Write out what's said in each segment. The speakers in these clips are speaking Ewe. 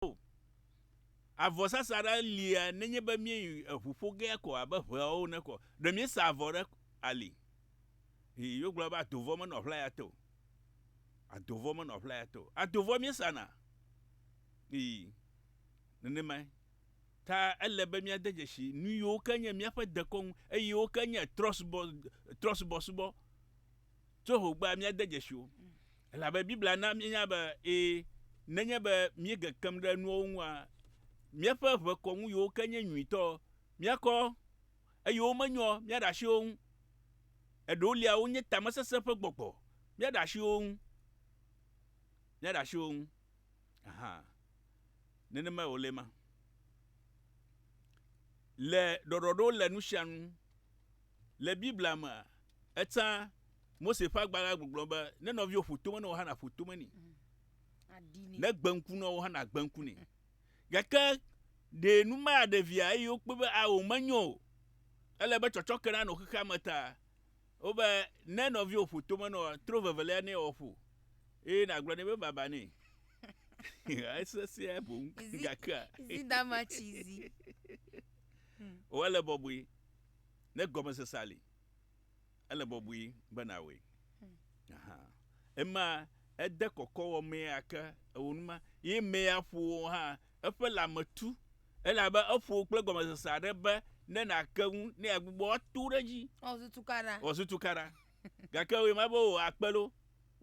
o. Avɔ sasa ɖa lia nenye be míeyi eŋu ƒo gea ko abe ŋeawo ene ko. Ɖe míesa avɔ ɖe ali? Ii, wogblɔ be adovɔ menɔ ʋlaya te o. Adovɔ menɔ ʋlaya te o. Adovɔ míesana? Ii, nenemae. Ta ele be míade dzesi nu yiwo ke nye míaƒe dekɔnu eye wo ke nye trɔsubɔ, trɔsubɔsubɔ tso xogbea míade dzesi wo. Elabe Biblia na míenya be ẽ, nenye be míege kem ɖe nuawo ŋua, míaƒe ʋe kɔ ŋu yiwo ke nye nyuitɔ, míakɔ, eye womenyɔ, míaɖe asi wo ŋu. Eɖeolia wonye tamesesẽ ƒe gbɔgbɔ, míaɖe asi wo ŋu. Míaɖe asi wo ŋu. Aha. Nenemae wòle ema. Le ɖɔɖɔɖo le nusianu. Le Biblia mea, Etsã Mose ƒe agbalẽ la gbɔgblɔ be, Ne nɔviwò ƒo tome ne wò hã nàƒo tome nɛ. Mm, ne gbe ŋku ne wò hã nàgbe ŋku nɛ. Gake ɖe nu ma ɖe via eye wokpɔe be ao menyo o. Ele be tsɔtsɔke nanɔ xexea me ta. Wobe, ne nɔviwò ƒo tome ne wò, tro vevelia nɛ wòaƒo eye nàgblɔ nɛ be baba nɛ. Esesẽ boŋ gakea. Zidama tsi zi. Wòele bɔbɔe ne gɔmesesea li. Ele bɔbɔe be nàwɔe. Aha. Ema ede kɔkɔwɔmea ke eo nu ma, ye emea ƒo wò hã eƒe lãme tu, elabe eƒo wò kple gɔmesese aɖe be ne nàke ŋu ne yeagbugbɔ ato ɖe edzi. Wòazu tukaɖa. Wòazu tukaɖa. Gake wòe ma be wò akpe loo,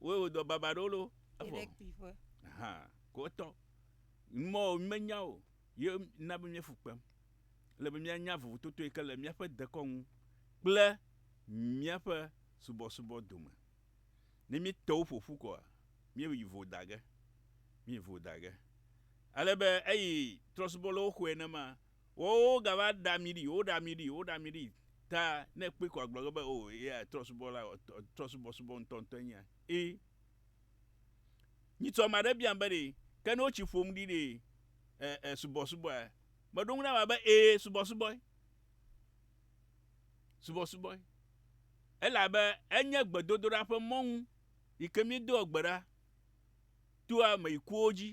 wòe wò dɔ baba ɖo loo, Yi ɖe evɔ. kpuiƒe. Aha. Ko etɔ. Mɔ menya o, ye na be míefu kpem. Ele be míanya vovototo yi ke le míaƒe dekɔ ŋu kple míaƒe subɔsubɔ dome. Ne míete wo ƒo ƒu koa, míeyi vo da ge. Míeyi vo da ge. Ale be eyi trɔ̃subɔlawo xɔe nenema. Woawo wogava ɖea ami ɖi, woɖea ami ɖi, woɖea ami ɖi. Ta ne ekpɔe ko agblɔ ge be, Oo, eya trɔ̃subɔla, trɔ̃subɔsubɔ ŋutɔŋutɔe nye ya. Ẽ. Nyitsɔ ame aɖe biam be ɖe, ke ne wotsi ƒom ɖi ɖe, e, e, subɔsubɔa, Meɖo ŋu na ame be, Ee, subɔsubɔe. Subɔsubɔe. Elabe enye gbedodoɖa ƒe mɔnu yi ke míedoa gbe ɖa toa ame yi kuwo dzi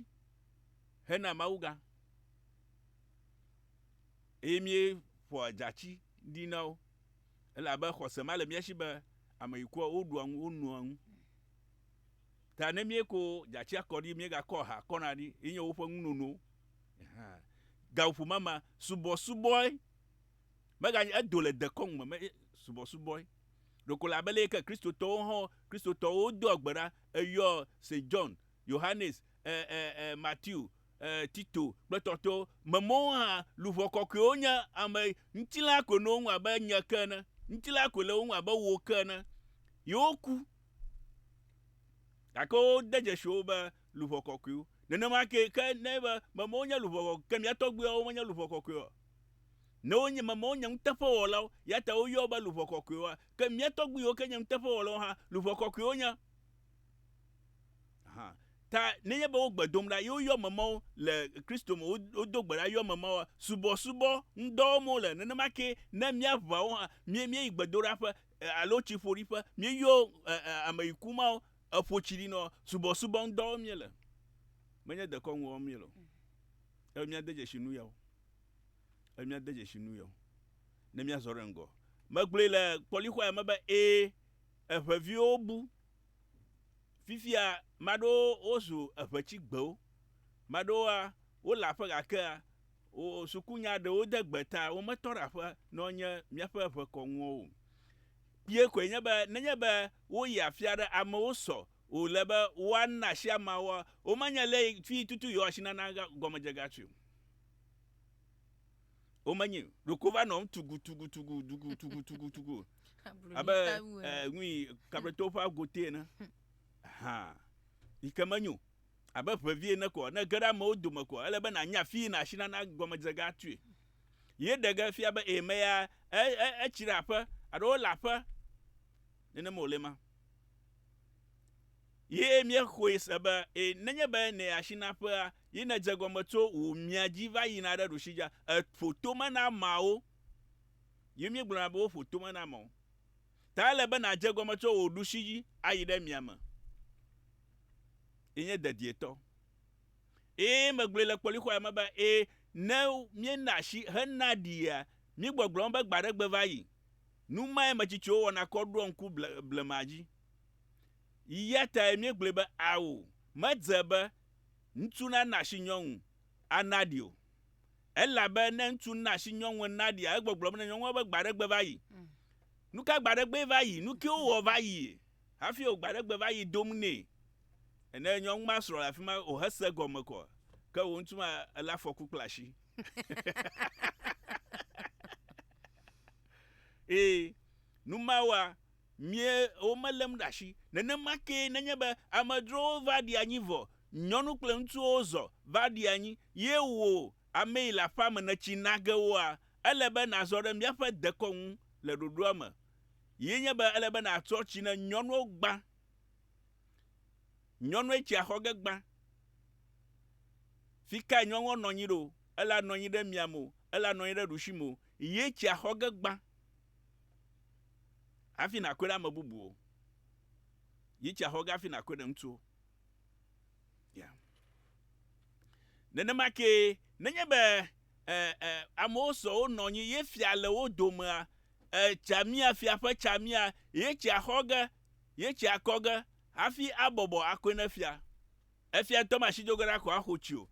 hena Mawu gã. Eye míeƒoa dzati ɖi na wo. Elabe xɔse ma le mía si be ame yi kua, woɖua nu, wonoa nu. Ta ne míeko dzatsia kɔ ɖi, míegakɔ aha kɔna ɖi, yi nye woƒe ŋu nono. Gaƒoƒo ma ma, subɔsubɔe. Meganye, edo le dekɔnu me, me, subɔsubɔe. Ɖeko le abe leyike Kristotɔwo hã, Kristotɔwo doa gbe ɖa, eyɔ Saint John, Yohanes, e, e, e, Matthew, e, Tito, kple tɔtɔwo, me mɔwo hã, luʋɔ kɔkɔewo nye ame, ŋutilã koe nɔ wo ŋu abe nye ke ene, ŋutilã koe le wo ŋu abe wò ke ene. Yewoku. Gake wode dzesi wo be luʋɔ kɔkɔe wo. Nenema kee ke ne enye be memawo nye luʋɔ kɔkɔe ke mía tɔgbuiawo menye luʋɔ kɔkɔe o. Ne wonye memawo nye nuteƒewɔlawo eya ta woyɔ wo be luʋɔ kɔkɔewoa, ke mía tɔgbu yiwo ke nye nuteƒewɔlawo hã, luʋɔ kɔkɔe wonye. Hã ta nenye be wo gbe dom ɖa ye woyɔ memawo le Kristo me, wodo gbe ɖa yɔ memawoa, subɔsubɔ ŋudɔ wɔm wole. Nenema kee ne mía ʋawo hã, míeyi gbedoɖaƒe, Alo tsi ƒoɖi ƒe, míeyɔ ame yi ku mawo, eƒo tsi ɖi nɔ subɔsubɔ ŋudɔ wɔm míele, menye dekɔnu wɔm míele o. Eye míade dzesi nu yawo, eye míade dzesi nu yawo, ne míazɔ ɖe ŋgɔ. Megblɔe le kpɔlixɔa me be, Ẽ, eŋeviwo bu. Fifia ame aɖewo wozu eŋetsigbewo. Ame aɖewoa, wole aƒe gake sukunya ɖewo de gbe ta wometɔ ɖe aƒe ne wonye míaƒe ŋekɔnuwo o. Kpuie koe nye be nenye be woyi afi aɖe amewo sɔ wòle be woana asi ameawo womanya le tututu yewoasi nana gɔmedzegatsoe o. womenyi ɖoko va nɔ tugutugutugutugutugutugu abe eh, nui kabreto ƒe agote ene hã yi ke menyo abe ʋevi ene kɔ ne ge ɖe amewo dome kɔ ele be nànya afi yina asi nana gɔmedzega atui ye ɖe ge fia be eme ya e, e, etsi ɖe aƒe alo wole aƒe nenema wòle ma Ye míexɔe se be, ẽ, nenye be nèyi asi na ƒea, ye nèdze egɔme tso wò mia dzi va yina ɖe ɖusi dza, èƒo tome na ameawo, ye míegblɔna be woƒo tome na ameawo, ta ele be nàdze egɔme tso wò ɖusi dzi ayi ɖe mia me. Yenye dedietɔ. Eye megblɔe le kpɔlixɔa me be, ẽ, ne míena asi hena ɖia, míegbɔgblɔm be gbe aɖe gbe va yi. Nu mae metsitsiwo wɔna kɔ ɖoa ŋku ble, blema dzi. Eya tae míegblɔe be ao, medze be ŋutsu nana asi nyɔnu anaɖi o. Elabe ne ŋutsu na asi nyɔnu enaɖia, egbɔgblɔm ne nyɔnua be gbe aɖe gbe va yi. Mm. Nu ka gbe aɖe gbee va yi? Nu kewo wɔ va yi? Hafi wò gbe aɖe gbe va yi dom nɛ. Ene nyɔnu ma srɔ̃ le afi ma o hese gɔme kɔ. Ke wò ŋutsu ma ele afɔku kple asi. Ee, nu mawoa, Mie wo melém ɖe asi. Nenema kee nenye be amedzrowo va ɖi anyi vɔ, nyɔnu kple ŋutsuwo zɔ va ɖi anyi, ye wò amee le aƒea me nètsi na ge woa, ele be nàzɔ ɖe míaƒe dekɔ ŋu le ɖoɖoa me, ye nye be ele be nàtrɔ tsi ne nyɔnuwo gbã. Nyɔnue tsia xɔ ge gbã. Fi kae nyɔnua nɔ anyi ɖo? Ele anɔ anyi ɖe miame o, ele anɔ anyi ɖe ɖusi me o, ye tsia xɔ ge gbã. Hafi nàkɔe ɖe ame bubuwo. Yi tsia xɔ ge hafi nàkɔe ɖe ŋutsuwo. Ya. Nenema kee, nenye be e, e, amewo sɔ wonɔ anyi ye fia le wo domea, e, tsamia, fia ƒe tsamia, ye tsia xɔ ge, ye tsia kɔ ge hafi abɔbɔ akɔe ne fia. Efia ŋutɔ be asi do ge ɖa ko axo tsi o,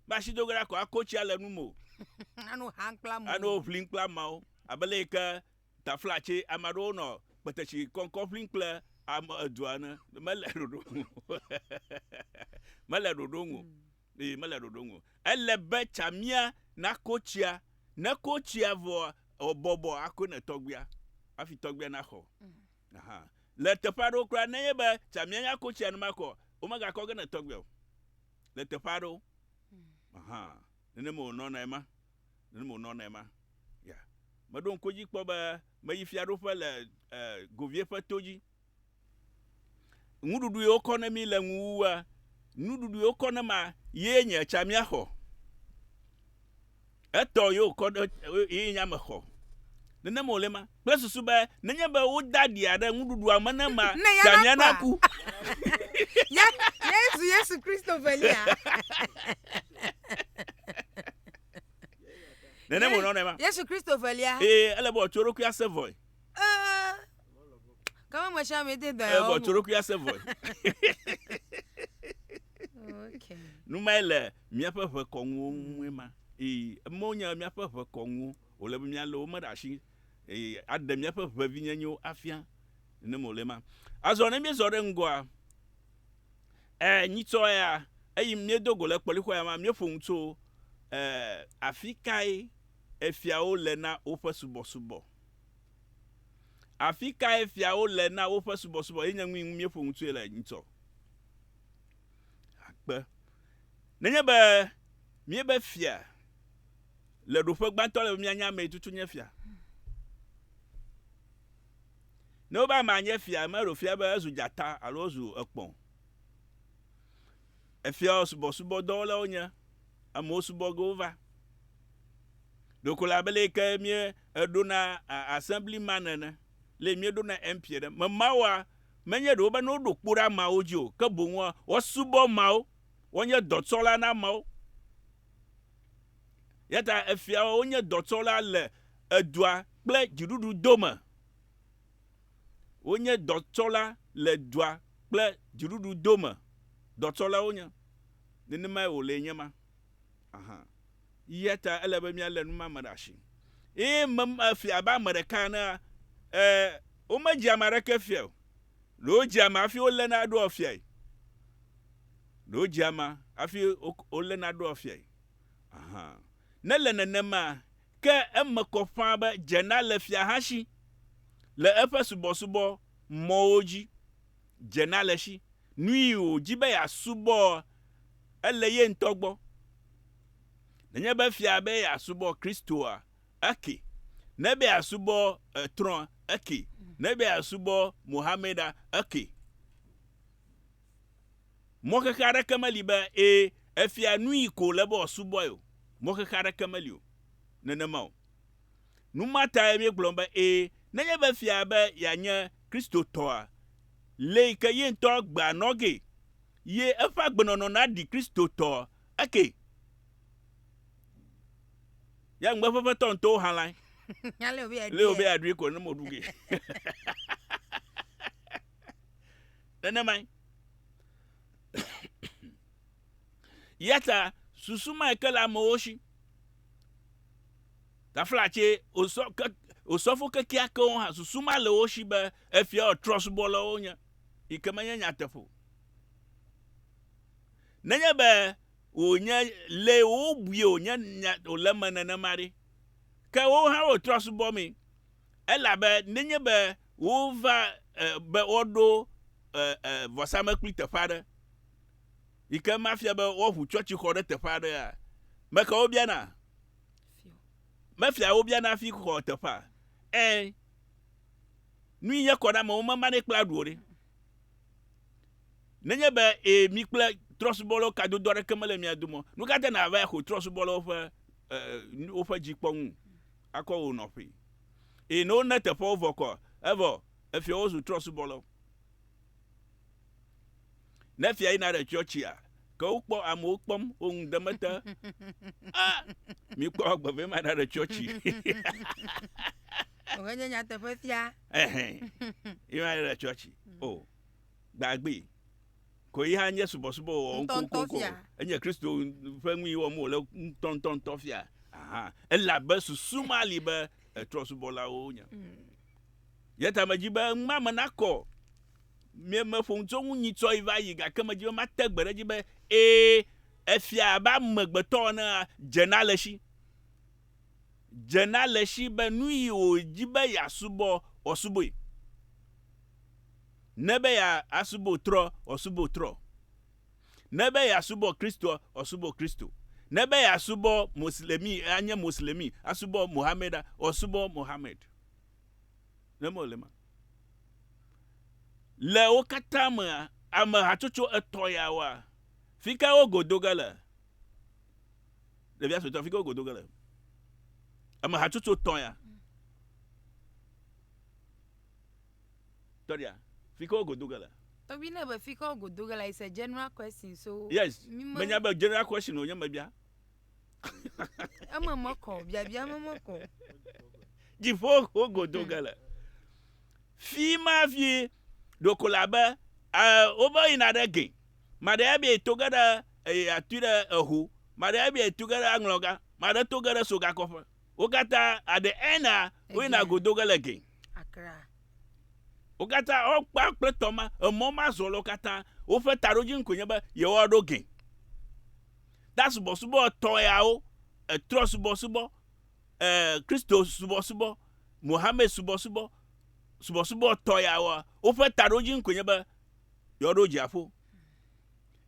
be asi do ge ɖa ko ako tsia le nu me o. Ano han kple amewo. Ano ʋlim kple amewo. Abe le yi ke tafla tse ame aɖewo nɔ kpetesi kɔŋkɔ ʋlim kple ame edua ene. Mele ɖoɖo nu o. Mele ɖoɖo nu o. Ee, mele ɖoɖo nu o. Ele be tsamia nako tsia. Ne eko tsia vɔa, wòbɔbɔ akoe ne tɔgbuia hafi tɔgbuia naxɔ. Aha. Le teƒe aɖewo kura, nenye be tsa mianya ko tsia numakɔ, womegakɔ ge ne tɔgbe o. Le teƒe aɖewo. Aha. Nenema wònɔnae ma. Nenema wònɔnae ma. Ya. Meɖo ŋku edzi kpɔ be meyi fiaɖuƒe le e, Govie ƒe to dzi. Nuɖuɖu yi wokɔ ne mi le ŋu wua, nuɖuɖu yi wokɔ ne ma ye nye tsa miaxɔ. Etɔ ye wòkɔ ɖe ye nya me xɔ. Nenema wòle ema, kple susu be nenye be wode aɖia ɖe nuɖuɖua me ne ma, Ne ya ta nia nakua? naku. Ya, yae zu Yesu Kristo velia. Nenema wònɔ nɔ ema. Yesu Kristo velia. Eye ele be wòatso eɖokui ase vɔe. Ẽ, Kama me sia me te da ya. Vɔ tsorokuia se vɔe. Okay. Numae le míaƒe ʋe kɔnuwo ŋue ma. Ee, emewo nye míaƒe ʋe kɔnuwo. Wòle be míalé wo me ɖe asi. Ee, aɖe míaƒe ʋevinyenyewo afia. Ne mole ma. Azɔ ne míezɔ ɖe ŋgɔa, ee, nyitsɔ ya, eyi míedo go le kpɔlixɔ ya ma, míeƒo nu tso, ee, afikae efiawo le na woƒe subɔsubɔ. Afi kae fiawo le na woƒe subɔsubɔ ye nye nui ŋu míeƒo ŋutsoe le ŋtsɔ? Akpe. Nenye be míebe fia le ɖoƒe gbãtɔ le be míanye amee tutu nye fia. Ne wobe amea nye fia, meɖo fia be ezu dzata alo ezu ekpɔ o. Efiawo subɔsubɔdɔwɔlawo nye amewo subɔ ge wova. Ɖeko le abe le yi ke mía eɖo na Assembly man ene, le yi mía ɖo na MP ene. Me mawoa, menye ɖe wobe ne woɖo kpo ɖe ameawo dzi o, ke boŋ woa, wosubɔ ameawo, wonye dɔtsɔla na ameawo. Eya ta efiawo wonye dɔtsɔla le edua kple dziɖuɖu dome. Wonye dɔtsɔla le dua kple dziɖuɖu dome dɔtsɔla wonye. Nenemae wòle nye ma hã. Eya ta ele be míalé nu ma me ɖe asi. Eye mem efia abe ame ɖeka enea, e, womedzi ame aɖeke fia o. Ɖe wodzi ame hafi woléna eɖoa fiae. Ɖe wodzi ame hafi wo, woléna eɖoa fiae. Aha. Ne le nenema, Ke eme kɔ ƒãa be Jenna le fiahasi le eƒe subɔsubɔ mɔwo dzi. Jenna le si nui wòdi be yeasubɔ ele ye ŋutɔ gbɔ. Nenye be fia be yeasubɔ Kristoa, eke. Ne be yeasubɔ trɔ̃a, eke. Ne be yeasubɔ Mohammeda, eke. Mɔxexe aɖeke meli be, ẽ, efia nui ko wòle be wòasubɔe o. Mɔxexe aɖeke meli o. Nenema o. Nu ma tae míegblɔ be, ẽ, nenye be efia be yeanye Kristotɔa, lee yi ke ye ŋutɔ gbea nɔ gee, ye eƒe agbenɔnɔ naɖi Kristotɔ eke. Ya ŋugbe eƒe ƒetɔ ŋutɔwo hã lae. Lee wòbe yeaɖui ko nenema wòɖu gee. Nenemae. Ya ta susu mae ke le amewo si. Taflatse osɔ ke osɔfo kekeakewo hã susu ma le wo si be efia trɔsubɔlawo nye, yi ke menye nyateƒe o. Nenye be wònye le wobui wònye nya wòle eme nenema ɖe, ke wo hã wo trɔsubɔ mee. Elabe nenye be wova e, be woaɖo e, e, vɔsamlekpui teƒe aɖe, yi ke mafia be woaʋu tsɔtsixɔ ɖe teƒe aɖea, me ka wobiana? Mefia wobiana hafi xɔ teƒea. Ẽ, nu yi nye kɔ na amewo memanɛ kple aɖu o ɖe. Nenye be e, mi kple trɔsubɔlawo kadodo aɖeke mele mia dome o, nu ka te nàva axɔ trɔsubɔlawo ƒe e, woƒe dzikpɔnu? akɔ wò nɔƒe. Eye ne wona teƒeawo vɔ kɔ, evɔ efiawo zu trɔ̃subɔlawo. Ne fia yina ɖe tsɔtsia, ke wokpɔ amewo kpɔm, wo ŋu dem ete, A! Mikpɔ agbe vɛ maɖa ɖe tsɔtsi. Wòhe nye nyateƒe fia. Ɛhɛn. Yema ɖe tsɔtsi. O, gbagbe. Koe ya nye subɔsubɔ wɔwɔ ŋkɔŋkɔŋkɔ. Enye Kristo ƒe nui wɔm wòle ŋutɔŋutɔŋutɔ fia. Elabe susu ma li be trɔ̃subɔlawo wonye. Hmm. Ye ta medzi be ŋma me nakɔ. Meƒo nu tso ŋu nyitsɔe va yi gake medzi be mate gbe ɖe edzi be ee, efia abe amegbetɔ ene dzena le si. Dzena le si be nu yi wòdzi be yeasubɔ, wòasubɔe. Ne be ya asubɔ trɔ ɔ subɔ trɔ. Ne be ya subɔ Kristo ɔ subɔ Kristo. Ne be ya subɔ Moslemi a nye Moslemi, a subɔ Mohamɛd a ɔ subɔ Mohamɛd. Ne mɔ le ma. Le wo kata me a, ame hatsotso etɔ ya wa. Fika wo godo ge le? Ɖevia suetɔ fika wo godo ge le? Ame hatsotso tɔ ya. Tɔɖia, fi ke wo go do ge le. Tɔgbi ne be fi ke wo go do ge le is a general question so Yes, mi me. menya be general question wonye mebia. Eme me kɔ o, biabia me me kɔ o. Dziƒo wo go do ge le. Fi ma fi ɖeko le abe e wova yina ɖe ge. Maɖe ya be to ge ɖe e atui ɖe eho. Maɖe ya be to ge ɖe aŋlɔga. Maɖe to ge ɖe sogakɔƒe. Wo katã aɖe ena woyina go do ge le ge. Wo katã wokpa kple tɔ ma, emɔ ma zɔ lɔ katã. Woƒe taɖodzinu koe nye be yewoaɖo ge. Ta subɔsubɔ etɔ̃ yawo, etrɔ subɔsubɔ, e, Kristo subɔsubɔ, Mohammed subɔsubɔ, subɔsubɔ etɔ̃ yawoa, woƒe taɖodzinu koe nye be yewoaɖo dziaƒo.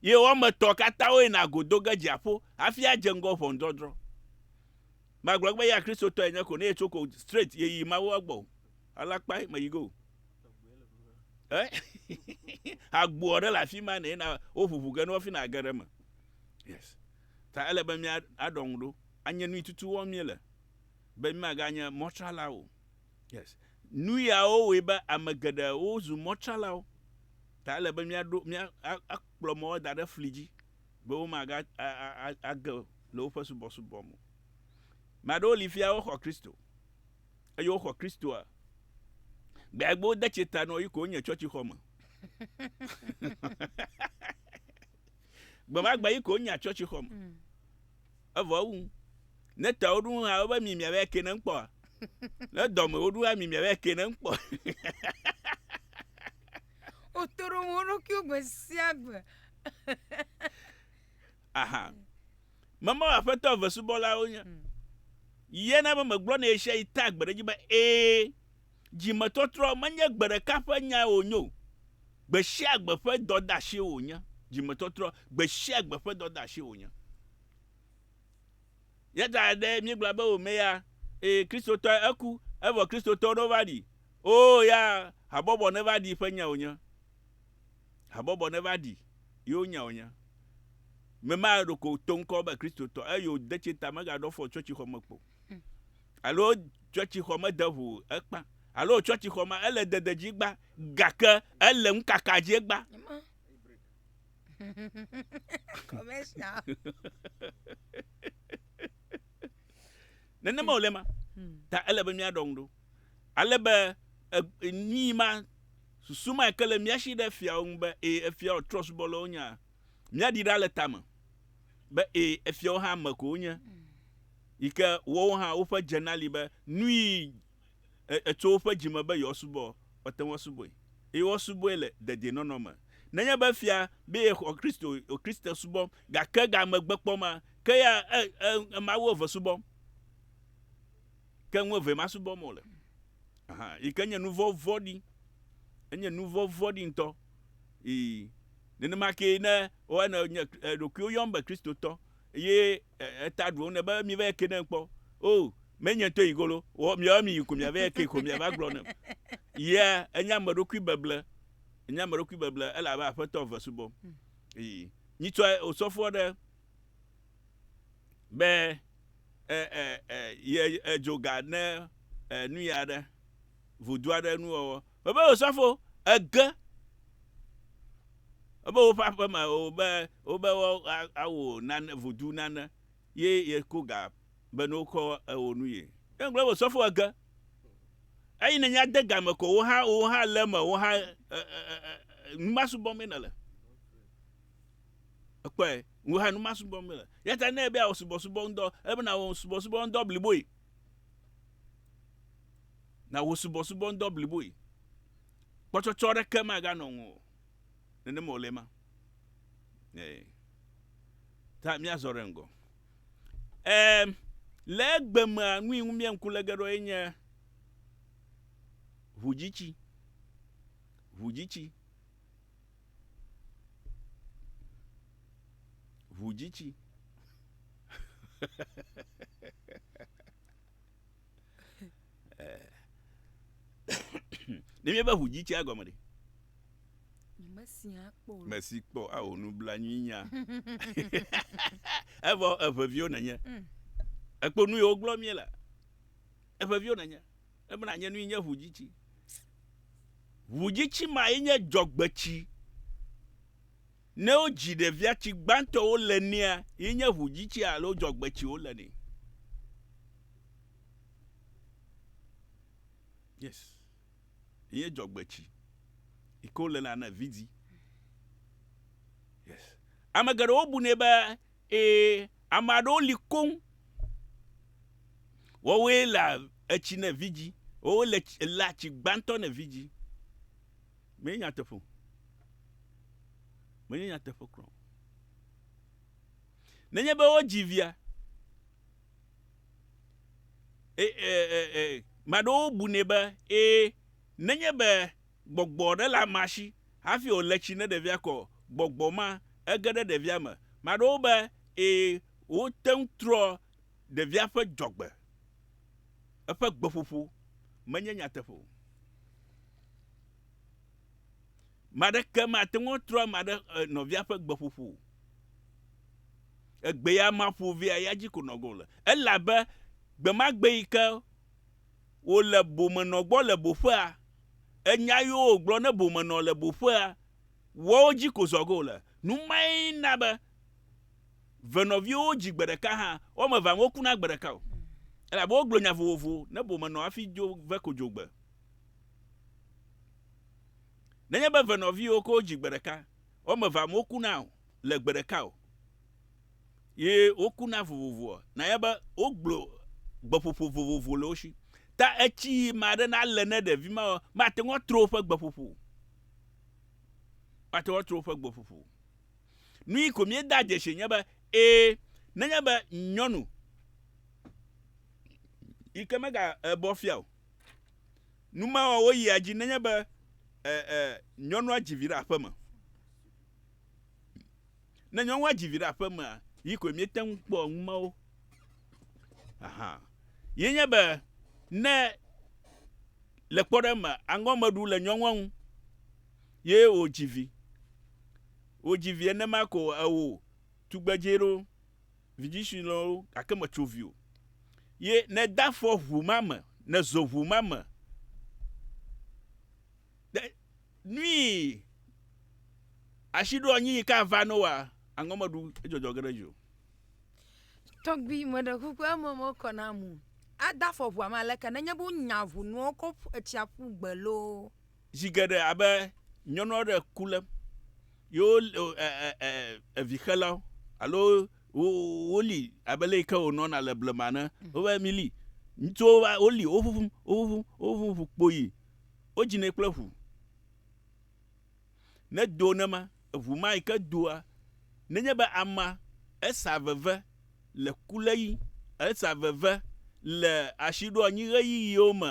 Ye woame etɔ̃ katã woyina go do ge dziaƒo hafi adze ŋgɔ ʋɔnudɔdrɔ̃. Magblɔ be eya Kristotɔe nye ko ne yetso ko straight yeyi Mawu gbɔ o. Ala kpae meyi go. Eh? Agboa ɖe le afi ma ne na woʋuʋu ge ne wofi na age ɖe me. Yes. Ta ele be mía aɖɔ ŋu ɖo. Anye nui tutu wɔm mí le be mí maganye mɔtrala o. Yes. Nu yawo wɔe be ame geɖe wozu mɔtralawo. Ta ele be mía ɖo mía akplɔ mɔwo da ɖe fli dzi. be womagage le woƒe subɔsubɔ me o. Ame aɖewo li fia woxɔ Kristo, eye woxɔ Kristoa gbeagbe wode tsi ta nɔ yi ko wonye tsɔtsixɔ me. Gbemagbe yi ko wonya tsɔtsixɔ me. Hmm. Evɔ ewu. Ne ta woɖu hã wobe mi miavɛ ke ne ŋkpɔa. Ne dɔme woɖu hã mi miavɛ ke ne ŋkpɔ. Wotoro wo ɖokuiwo gbe sia gbe. Aha. Memawu Aƒetɔ eve subɔlawo nye. Hmm. Ye na be megblɔ ne ɣesia yi tea gbe ɖe edzi be ee, dzimetɔtrɔ menye gbe ɖeka ƒe nya wònye o. Gbe sia gbe ƒe dɔdeasi wònye. Dzimetɔtrɔ gbe sia gbe ƒe dɔdeasi wònye. Yata ɖe míegblɔa be wòme ya, eye Kristotɔe eku, evɔ Kristotɔwo ɖo va ɖi. Oo ya, habɔbɔ neva ɖi ƒe nya wònye. Habɔbɔ neva ɖi yewo nya wònye. Mema ɖeko to ŋkɔ be Kristotɔ, eye wòde tse ta megaɖɔ fɔ tsɔtsixɔ me kpo. Hmm. Alo tsɔtsixɔ mede ŋu ekpa. Alo tsɔtsixɔ ma ele dede dzi gba, gake ele ŋukaka dzi gba. commercial nenema wòle ma ta ele be míaɖɔ ŋu ɖo ale be e- nii ma susu ma ke le mía si ɖe efiawo ŋu be ee efiawo trɔ subɔlawo nya míaɖi ɖa le tame be ee efiawo hã ame ko wonye yi ke wowo hã woƒe dzena li be nui tso woƒe dzi me be yewoasubɔ, woate ŋu asubɔe, eye woasubɔe le dedienɔnɔ me. Nenye be fia be yexɔ Kristo o, Kristo subɔ, gake ga megbekpɔ ma, ke ya e, e, e mawu eve subɔm. Ke nu evee masubɔm wòle. Aha, yi ke nye nu vɔ̃ vɔ̃ɖi. Enye nu vɔ̃ vɔ̃ɖi ŋutɔ. Ii, nenema kee ne woane nye eɖokuiwo yɔm be Kristotɔ, eye Eta ɖuwo ne be miva eke nem kpɔ o menye ŋtɔ yi golo wɔ miawa mi yi ko miava eke ko miava gblɔ nem yia enye ame ɖokui beble enye ame ɖokui beble ele abe aƒetɔ ve subɔm hmm. yi nyitsɔ osɔfoɔ ɖe be e e e ye edzoga ne e nuya ɖe vodu aɖe nu wɔwɔ. Mebe wò sɔfo, ege ebe woƒe aƒe me o be wobe woawò nane vodu nane ye yeko ga be ne wokɔ ewò nu ye. Ye gblɔ be wò sɔfo, ege eyi ne nya de game ko woha woha le eme woha e e e numasubɔ me nele. Ekpɔe woha numasubɔ me le. Yata ne ebe awɔ subɔsubɔ ŋdɔ ebe na wɔ subɔsubɔ ŋdɔ bliboe. na wò subɔsubɔŋdɔ bliboe. Kpɔtsɔtsɔ aɖeke maganɔ ŋuwò o. Nenema wòle ema. Ee. Ta míazɔ ɖe ŋgɔ. Ee, le egbe mea, nu yi ŋu míe ŋku le ge ɖo ye nye ʋudzitsi. Ʋudzitsi. Ʋudzitsi. Eh. Ne míebe ʋu dzi tsia gɔme ɖe. Mesia kpɔ. Mesi kpɔ ao nublanuinya. Evɔ eʋeviwo nenye. Mm. Ekpo nu yewo gblɔ mie la. Eʋeviwo nenye. Ebena nye nui nye ʋu dzi tsi. Ʋu dzi tsi ma ye nye dzɔgbetsi. Ne wodzi ɖevia, tsi gbãtɔ wole nɛa, ye nye ʋudzitsia alo dzɔgbetsi wole nɛ. Yes. Ye nye dzɔgbetsi. Yi ke wole na ne vidi. Yes. Ame geɖewo bu nɛ be, ee, ame aɖewo li koŋ, woawoe lea etsi ne vidi. Woawoe le tsi, lea tsi gbãtɔ ne vidi. Menye nyateƒe o. Menye nyateƒe kura o. Nenye be wodzi via, e, e, e, e, maɖewo bunɛ be ee, nenye be gbɔgbɔ aɖe le amea si hafi wòle tsi ne ɖevia kɔ, gbɔgbɔ ma ege ɖe ɖevia me. Maɖewo be ee, wote ŋu trɔ Ɖevia ƒe dzɔgbe, eƒe gbeƒoƒo menye nyateƒe o. Me aɖeke mate ŋu atrɔ ame aɖe eh, nɔvia ƒe gbeƒoƒo o. Egbeya maƒo vea ya dzi ko nɔgɔ le. Ele abe gbe ma gbe yi ke wòle bomenɔ gbɔ le boƒea, enya yiwo wògblɔ ne bomenɔ le boƒea, woawo dzi ko zɔgo le. Nu mae na be ve nɔviwo wo dzi gbe ɖeka hã wo ame evea wo kuna gbe ɖeka o elabe wo gblɔ nya vovovo ne bo menɔ afi dzo ve ko dzogbe nenye be ve nɔviwo ko dzi gbe ɖeka wo ame evea wo kuna o le gbe ɖeka o ye wo kuna vovovo na ye be wo gblɔ gbeƒoƒo vovovo le wo si ta etsi ma ɖe na le ne ɖevi ma ma te ŋɔ tro ƒe gbeƒoƒo ma te ŋɔ tro ƒe gbeƒoƒo Nui ko míeda dzesi nye be, ẽ, nenye be nyɔnu yi ke mega ebɔ fia o, numewɔwɔ yia dzi nenye be ẽ, ẽ, nyɔnua dzi vi ɖe aƒe me. Ne nyɔnua dzi vi ɖe aƒe mea, yi koe míete ŋu kpɔa numawo. Aha. Ye nye be, ne le kpɔɖeŋ me, aŋgɔmeɖu le nyɔnua ŋu, ye wòdzi vi. Wòdzi vi enema ko ewò tugbedzɛ ɖo, vidzĩsui lɔwo, gake mètso vi o. Ye nède afɔ ʋu ma me, nèzo ʋu ma me. Ɖe nui ashiɖoanyiyi ka va ne wòa aŋɔ meɖu edzɔdzɔ ge ɖe dzi o. Tɔgbui, meɖe kuku eme mekɔ nam o. Ade afɔ ʋua me aleke nenye be wonya ʋunuwo kɔ ƒu etsiaƒugbe loo. Zi geɖe abe nyɔnu aɖe le ku lém yewo evixelawo alo woli abe le yike wònɔna le blema ne wobe mili ŋutsuwo va woli woʋuʋum woʋuʋum woʋuʋum ʋu kpoyi wodzinɛ kple ʋu ne do ne ma eʋu ma yike doa nenye be ama esa veve le ku le yi esa veve le asi ɖo anyi ɣeyiɣiwo me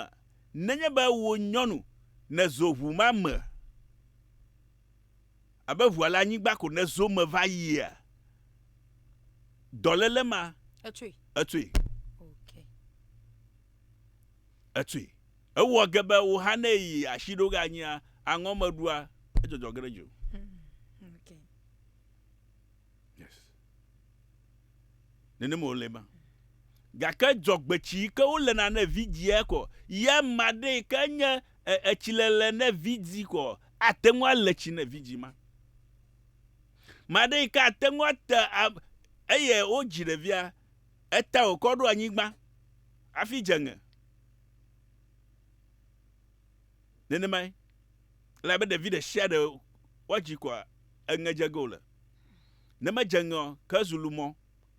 Nenye be wò nyɔnu nèzo ʋu ma me abe ʋua le anyigba ko nèzo eme va yia, dɔléle ma Etsui. etsui. Ok. Etsui. Ewɔ ge be wò hã ne èyi asi ɖo ge anyia, aŋɔ meɖua, edzɔdzɔ ge ɖe dziwò. Ok. Yes. Nenem wòle ma. Gake dzɔgbetsi yi ke wolena ne vidzia kɔ ya ma ɖe yi ke nye e, etsilele ne vidzi kɔ ate ŋu ale tsi ne vidzi ma. Ma ɖe yi ke ate ŋu ate a, eye wodzi ɖevia, eta wòkɔ ɖo anyigba hafi dze ŋe. Nenemae, elabe ɖevi ɖe sia ɖe woadzi kɔa, eŋe dze ge wòle. Ne medze ŋe ɔ, ke ezu lumɔ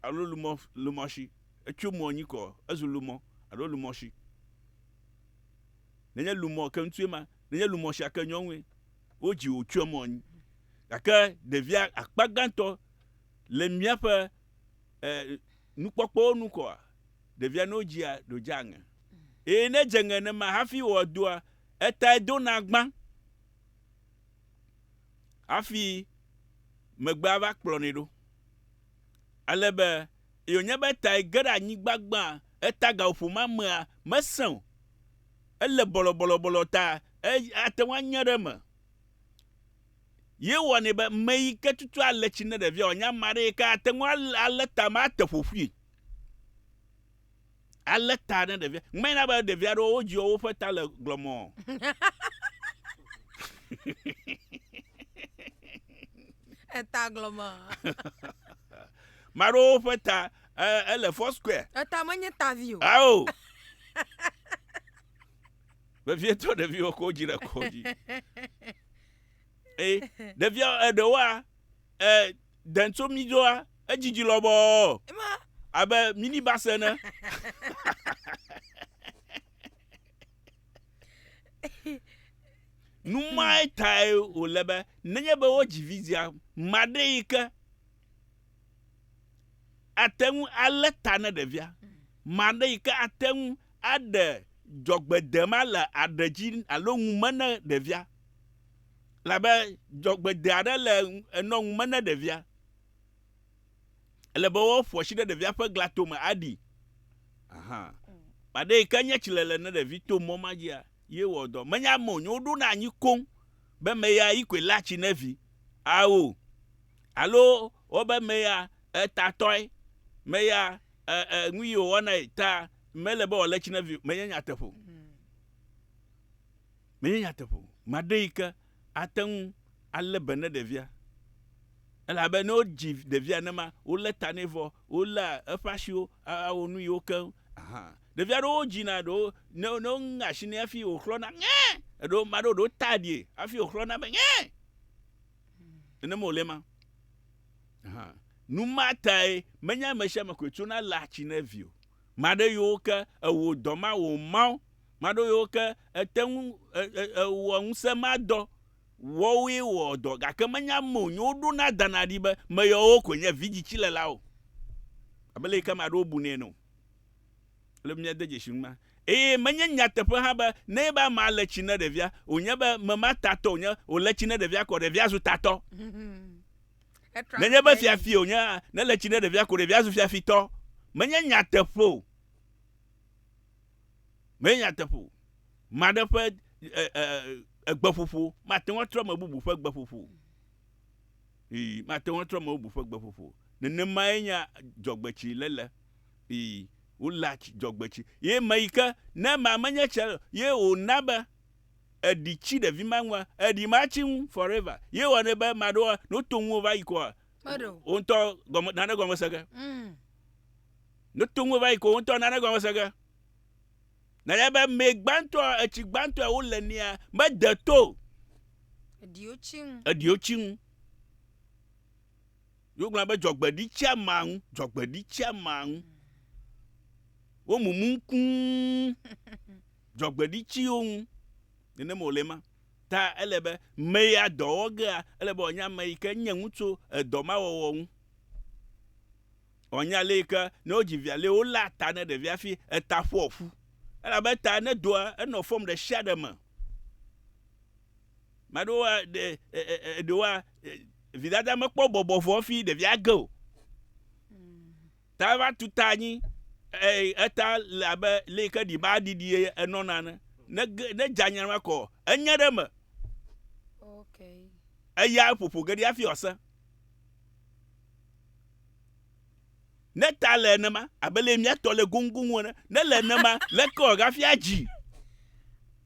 alo lumɔ lumɔshi. Etso mɔ nyi kɔ, ezu lumɔ alo lumɔshi. Nenye lumɔ ke ŋutsu ema, nenye lumɔshia ke nyɔnue, wo dzi wò tsoe mɔ nyi. Gake ɖevia akpa gãtɔ le míaƒe e, nukpɔkpɔwo nu kɔa, ɖevia ne wodzia, ɖo dzea ŋe. Eye ne edze ŋe nenema hafi wɔ edɔa, etae dona gbã. hafi megbea va kplɔnɛ ɖo. Ale be ye wònye be etae ge ɖe anyigba gbã, eta gaƒoƒo ma mea, mesẽ o. Ele bɔlɔbɔlɔbɔlɔ ta ate ŋu anye ɖe eme. Ye wɔnɛ be meyi ke tutu ale tsi ne ɖevia wòanye ame aɖe yi ke ate ŋu alé tame ate ƒoƒui. Alé ta ne ɖevia. Ŋmɛ na be ɖevia ɖewo wodziɔ woƒe ta le glɔmɔ. Eta glɔmɔ. Maɖewo ƒe ta ele four square. Eta menye tavi o. Ao. Vevietɔ ɖeviwo ko dzi ɖe kɔ dzi. Ee, ɖevia eɖewoa, Dɛn tso mí dzoa, édjidji lɔbɔɔ, abe minibus ene. Nu mae tae wòle be nenye be wodzi vidzĩa maɖe yi ke ate ŋu alé ta ne ɖevia, maɖe yi ke ate ŋu aɖe dzɔgbedema le aɖe dzi alo ŋu me ne ɖevia. Elabe dzɔgbede aɖe le enɔ ŋu me ne ɖevia. Ele be woƒo asi ɖe ɖevia ƒe glatome aɖi. Aha. Maɖe yi ke nye tsilele ne ɖevi to mɔ ma dzia, ye wɔ dɔ. Menye ame wònye woɖona anyi koŋ be meya yi koe léa tsi ne vi. Ao. Alo wobe meya etatɔe, meya e, e, nu yi wòwɔnae ta mele be wòalé tsi ne vi o. Menye nyateƒe o. Menye nyateƒe o. Ame aɖe yi ke ate ŋu alé be ne ɖevia, elabe ne wodzi ɖevia nenema, wolé ta nɛ vɔ, wolé eƒe asiwo awɔ nu yiwo keŋ, ahan. Ɖevi aɖewo wodzina ɖewo ne ne woŋe asi nɛ hafi wòxlɔ̃na ŋɛ. Eɖewo ame aɖewo ɖewo wotaa ɖie hafi wòxlɔ̃na be ŋɛ. Nene me wòle ema. Ahan. Nu ma tae menye ame sia ame koe tsona léa tsi na vi o. Maɖe yewo ke ewɔ dɔ ma wɔ o mao, maɖo yewo ke ete ŋu ewɔ ŋusẽ ma dɔ. Woawoe wɔ dɔ gake menye ame wonye woɖona dana ɖi be meyawo koe nye vidzitsilelawo abe le yi ke ame aɖewo bunɛ ene o. Ele be míade dzesi numa. Eye menye nyateƒe hã be ne nye be amea le tsi ne ɖevia wonye be mema tatɔ wonye wole tsi ne ɖevia kɔ ɖevia zu tatɔ. Nenye be fiafi wònye hã, ne le tsi ne ɖevia ko ɖevia zu fiafitɔ. Menye nyateƒe o. Menye nyateƒe o. Ame aɖe ƒe e, e, egbeƒoƒo mate ŋu atrɔ ame bubu ƒe gbeƒoƒo. Ii, mate ŋu atrɔ ame bubu ƒe gbeƒoƒo. Nenemae nya dzɔgbetsi lele. Ii, wole dzɔgbetsi. Ye me yi ke, ne ma menye tse, ye wòna be eɖi tsi ɖevi ma ŋua eɖi ma tsi ŋu forever ye wɔ ne be ma ɖo no to ŋu va yi koa o ŋutɔ gɔme nane gɔme sege mm. no to ŋu va yi ko o ŋutɔ nane gɔme sege na ya be me gbantɔ etsi gbantɔ wo le nia me de to eɖiwo tsi ŋu eɖiwo tsi ŋu yo gblɔ be dzɔgbeɖi tsi ama ŋu dzɔgbeɖi tsi ama ŋu mm. wo mumu ŋkuu dzɔgbeɖitsiwo ŋu. Nenem wòle ema ta ele be me ya dɔ wɔ gea, ele be wòanya ame yi ke nye ŋu tso edɔ ma wɔwɔ ŋu. Wòanya ale yi ke ne wodzi via ale woléa ta ne ɖevia hafi eta ƒoa ƒu. Elabe ta ne doa, enɔ fɔm ɖe sia ɖe me. Ame aɖewoa, ɖe, e, e, e, ɖewoa, e, vidada mekpɔ bɔbɔ vɔ hafi ɖevia ge o. Ta eva tu ta anyi, eye eta le abe lé yi ke ɖi ba ɖiɖi enɔna ene. Ne ge ne dza nyana kɔ, enye ɖe eme. Okay. Eya ƒoƒo ge ɖi hafi wòase. Ne ta le enema, abe lé mía tɔ le goŋgoŋ ene, ne le enema, leke wòaga hafi adzi?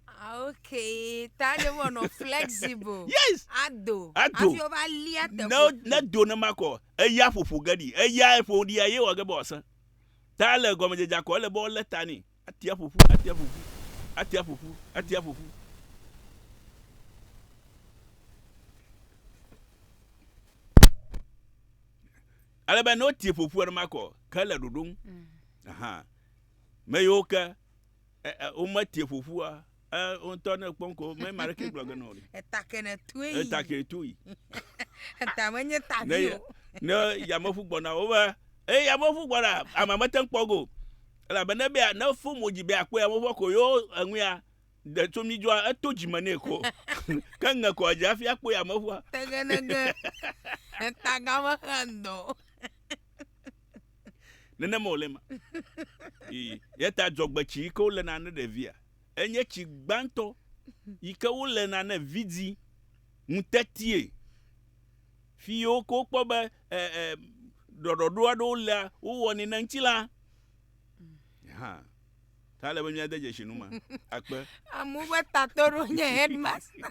Ah, okay. Ta ɖe wɔ nɔ flexible. Yes. Ado. Ado. Afi wo va lia te. Ne ne do ne ma kɔ eya ƒoƒo ge ɖi. Eya eƒo ɖi ye wɔ ge be wòasẽ. Ta le gɔmedzedzea kɔ ele be wolé ta nɛ. Atia ƒoƒu, atia ƒoƒu, atia ƒoƒu, atia ƒoƒu. Ale be ne wotie ƒoƒu ene ma kɔ ke le ɖoɖo ŋu. Mm. Aha. Me yiwo ke wometie ƒoƒua ŋutɔ ne kpɔm ko mɛ ma ɖeke gblɔ gena o. Eta kene tui. Eta kene tui. Eta me nye ta vi o. Ne yameʋu gbɔna wo be eye yameʋu gbɔna ama mete ŋu kpɔ go. Elabe ne be ne fo mo dzi be akpɔ yameʋua ko yo eŋuya de tso mi dzɔa eto dzi me ne ko. Ke ŋe ko dzi hafi akpɔ yameʋua. Tegenege. Eta game xe ŋdɔ. Nenema wòle ma. Ii, Eyata dzɔgbetsi yi ke wolena ne ɖevia, enye tsi gbãtɔ yi ke wolena ne vidzĩ ŋutetie. Fi yi woke wokpɔ be e, e, ɖɔɖɔɖo aɖewo lea, wowɔnɛ ne ŋutilã hã. Ta ele be míade dzesi nu ma. Akpe. Amewo ƒe tatɔɖo nye headmaster.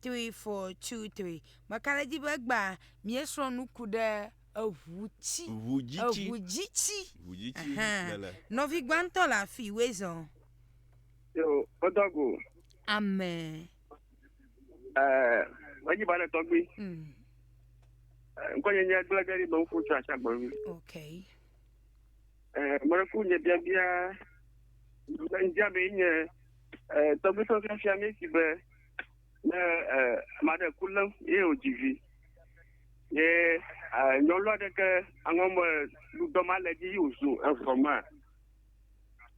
three four two three meka ɖe edzi be egbea miesrɔ̃ nuku ɖe eʋu tsi ʋu dzi tsi eʋu dzi tsi ʋu dzi tsi lele nɔvi gbãtɔ le afi wezɔ yo odago ame eh wadi ba le tɔgbi mm. ŋkɔ nye nye gblẽ gɛri be ŋku tsa tsa gbɔvi okay eh mɔɖeku nye bia bia ŋdia be nye eh tɔgbi sɔsɔ fia mi si be ne ame aɖe ku lém ye wòdzi vi ye nyɔnu aɖe ke aŋɔme dudɔ ma le dzi yi wòzu evɔ ma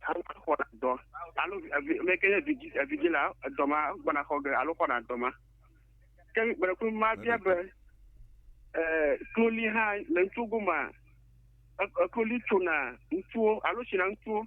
aŋɔ xɔ na dɔ alo ame ke nye vidzi evidzi la edɔ ma gbɔna xɔ ge alo xɔna dɔ ma ke gbeɖeku ma bia be kloli hã le ŋutsuwo goma ekloli tsona ŋutsuwo alo tsina ŋutsuwo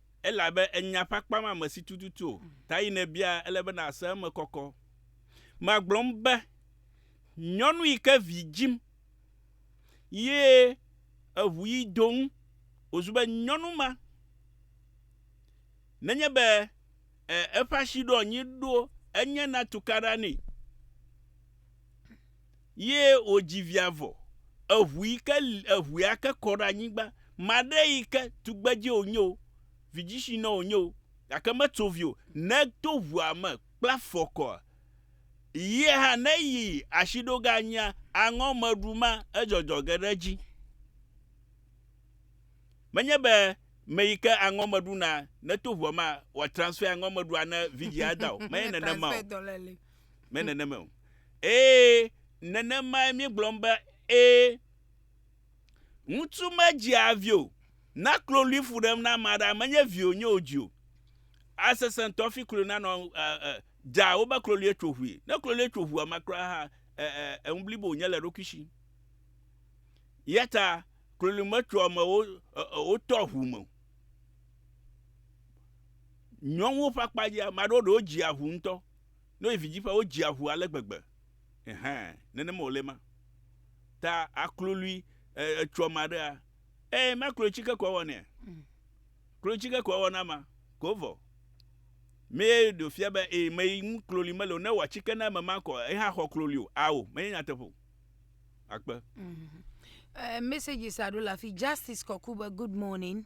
Elabe ènya ƒe akpa ma me si tututu o, ta yi nèbia, ele be nàse eme kɔkɔ. Magblɔm be, Nyɔnu yi ke vi dzim, ye eʋu yi do ŋu wòzu be nyɔnu ma, nenye be e, eƒe asiɖoanyi ɖo enye na tukaɖa nɛ. Ye wòdzi via vɔ, eʋui ke li eʋuia ke kɔ ɖe anyigba. Maɖe yi ke tugbedze wònye o, vidzitsinɔ wònye o, gake metso vi o, ne to ʋua me kple afɔ kɔa, yie hã ne yi asiɖoganyia, aŋɔ meɖu ma, edzɔdzɔ ge ɖe edzi. Menye be me yi ke aŋɔ meɖu na, ne to ʋua me wòatransfɛ aŋɔ meɖua ne vidzĩa da o, menye nenema o. Me nenema o. Ee, nenemae míegblɔm be ee. Ŋutsu medzea vi o, na klolui fu ɖem na ame aɖe, menye viwò nye wòdzi o. Asesẽ ŋutɔ hafi klolui nanɔ dza wobe kloluie tso ʋui. Ne kloluie tso ʋua ma kura hã, enu blibo wònye le eɖokui si. Eyata klolui metsoa amewo wotɔ ʋu me o. Nyɔnuwo ƒe akpa dzia, ame aɖewo ɖewo dzia ʋu ŋutɔ. Ne wòyi vidzĩ ƒea, wodzea ŋu ale gbegbe. Ɛhɛ̃, nenema wòle ema. Ta aklolui, e, etsɔ ame aɖea, eye makloetsike ko awɔ nɛa? Kloetsike ko awɔ na amea, ko vɔ. Mee ɖe wòfia be, ee, ame yi ŋu kloli mele o, ne wòwɔ tsike na ame ma kɔ, ye hã axɔ kloli o. Ao, menye nyateƒe o. Akpe. Ɛɛ, messages aɖewo le afi. Justice Kɔku be, Good morning.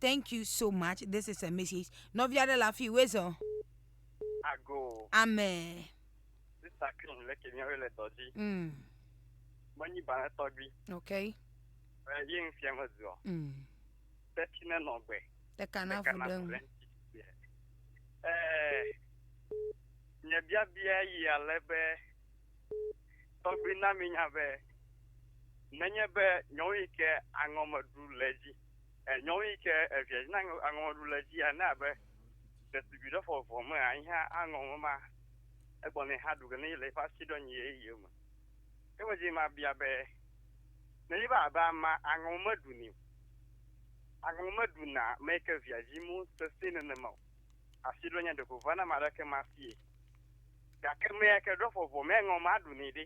Thank you so much. This is a message. Nɔvi aɖe le afi wòe zɔ. Ago. Ame. Sista Krim le ke míawo le dɔ dzi. Mm. Menyi balẽ tɔgbi. Ok. Ɛ yi ŋu fia me zuɔ. Mm. Teti ne nɔ gbe. Ɖeka na fu ɖe ŋu. Ɛ nye biabia yi ale be tɔgbi na mi nya be nenye be nyɔnu yi ke aŋɔ me ɖu le dzi. E nyɔnu yi ke evia dzi na aŋɔŋɔɖu le edzi ene abe ɖetugbui ɖe fɔ vɔ me anyi hã aŋɔ ŋɔ ma egbɔ ne hã ɖu ge ne yi le eƒe asi ɖɔ nyi ye ye me. Ke me dzi ma bia be ne yi va abe ama aŋɔ me ɖu ni o. Aŋɔ me ɖu na me yi ke via dzi mo sese nene ma o. Asi ɖɔ nya ɖeko va na ma ɖe ke ma sie. Ga ke me yi ke ɖɔ fɔ vɔ me aŋɔ ma ɖu ni ɖe.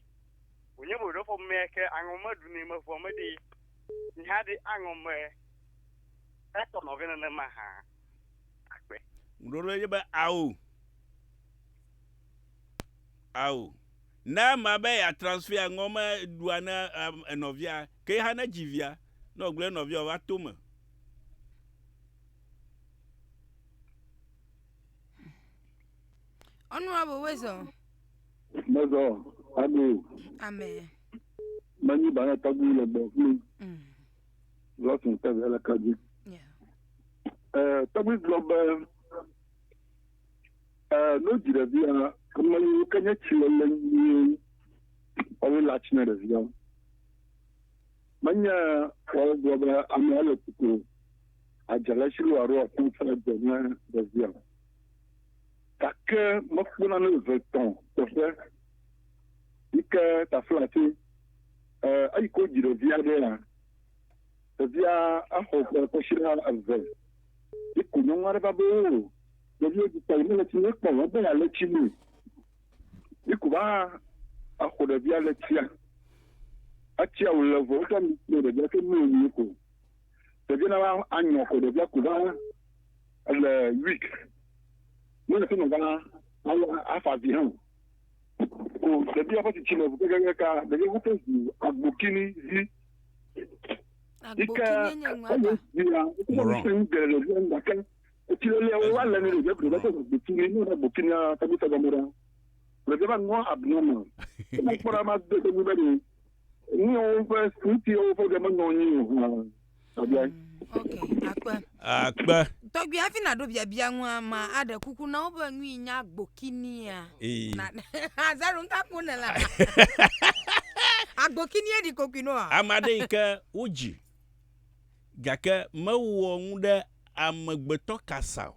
Wonye bo ɖɔ fɔ me yi ke aŋɔ me ɖu ni me vɔ me ɖee. Ni haɖe aŋɔ mɛ etɔ nɔvɛ nenema hã akpe. Ŋɖo ɖe dzi be ao. Ao. Ne ema be ya transfer aŋɔ mɛ ɖua ne enɔvia ke yi hã ne dzi via ne wògblɔ ne nɔvia wòava to me. Honorable Weasel. Mezɔ, amen. Amen. Menyi ba ne tɔgbu le gbɔ kpli. Lɔtun mm. tɛvɛ le kadzi. Eh, tɔgbu gblɔ be eh, no dzi ɖevia ame yiwo ke nye tsi lele nyuie ɔwe le atsi na ɖevia. Menye wɔwo gblɔ be ame ele kuku adzele si lo aro ɔfɔn fɛ dze ne ɖevia. Gake mekpɔ nane vetɔ teƒe yi ke tafla tse e eyi ke wodzi ɖevi aɖe ya. Ɖevia exɔ ƒe kɔsiɖa eve. Yi ko nyɔnu aɖe va be oo ɖevia dzi kpɔ yi mele tsi ne kpɔ o ebe ya le tsi me. Yi ko va exɔ ɖevia le tsia. Etsia wo le vɔ wotsɔ nu kple ɖevia ke mlɔ nu yi ko. Ɖevia na va anyɔ ko ɖevia ko va ele week mele sɛ nɔ gana alo afa vi hã o ɖevi aƒe tsitsi le ʋu gɛgɛgɛ ka ɖevi woƒe ʋu agbokini zi yike ele via wosɛ nu geɖe le via gake etsi lele wo wa le ne ɖevia ɖevia ƒe ʋu agbokini ne ʋu agbokini tagbe tagbe mɔ ɖa ɖevia va nɔ abnormal ne kpɔ ɖa ma de ɖe nu be ɖe Nuyawo ƒe nuti wo ƒe ɖe menɔ anyi o hã. Abia. Ok, akpe. Akpe. Tɔgbi hafi na ɖo biabia ŋua ma aɖe kuku na wo be nu yi nya gbokinia. Ee. Na azaro nka ko ne la. Agbokinia di kokui no a. Ame aɖe yi ke wodzi gake mewɔ nu ɖe amegbetɔ kasa o.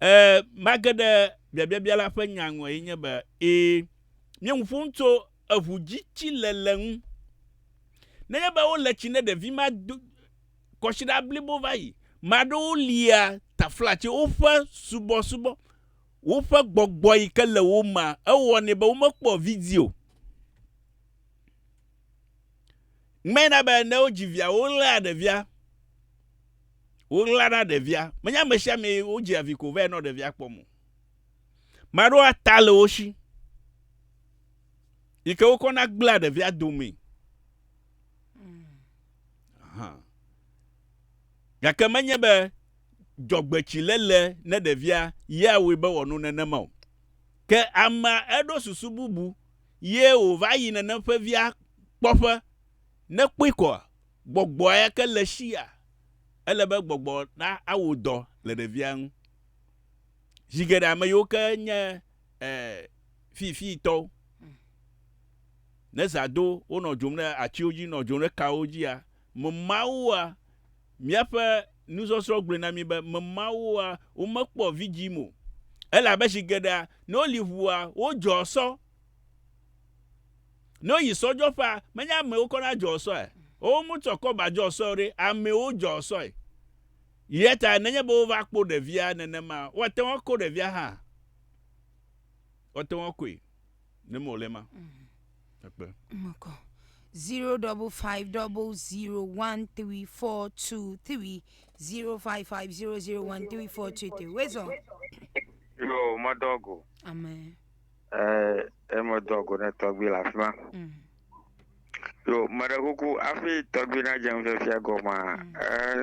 Ẽ, mage ɖe biabiabia la ƒe nya ŋu eye nye be, ẽ, míe ŋu ƒom tso eŋu dzi tsi le le ŋu. Nenye be wo le tsi ne ɖevi ma do kɔsiɖa blibo va yi. Me aɖewo lia taflatse, woƒe subɔsubɔ, woƒe gbɔgbɔ yi ke le wo mea, ewɔnɛ be wome kpɔ vidzĩ o. Ŋmɛ na be ne wo dzi via, wo ɣlea ɖevia. Woɣla na ɖevia. Menye ame sia amee wodzea vi ko vɛ nɔ ɖevia kpɔm o. Ame aɖewo ata le wo si yi ke wokɔna gblẽa ɖevia domee. Aha. Gake menye be dzɔgbetsiléle ne ɖevia yea wɔe be wòano nenema o. Ke amea eɖo susu bubu ye wòva yi nenem ƒe via kpɔƒe ne kpɔe koa? gbɔgbɔ yake le eshia, ele be gbɔgbɔ na awo dɔ le ɖevia ŋu. Zi geɖe ame yiwo ke nye e fiifii tɔwo, ne zã do wonɔ dzom ɖe atiwo dzi, nɔ dzom ɖe kawo dzia, me mawoa, míaƒe nusɔsrɔ̃ gblɔe na mí be me mawoa, womekpɔ vidzim o. Elabe zi geɖea, ne woli ŋua, wodzɔa sɔ. Ne woyi sɔdzɔƒea, menye amewo kɔ na dzɔ sɔe. Wo mu tsɔ kɔ ba dzɔ sɔe ɖe, amewo dzɔ sɔe. Yɛ ta nenye be wova kpo ɖevia nenema, woa te ŋu ko ɖevia hã. Woa te ŋu koe. Ne me wòle ma. Ekpe. Mokɔ. Zero double five double zero one three four two three zero five five zero zero one three four two three. Wezɔ. Yo, mɔdɔgo. Amen. Eh, eme dɔ go ne tɔgbi le afi ma. Mm. Yo, meɖe kuku afi tɔgbi na dze nufifia gɔma,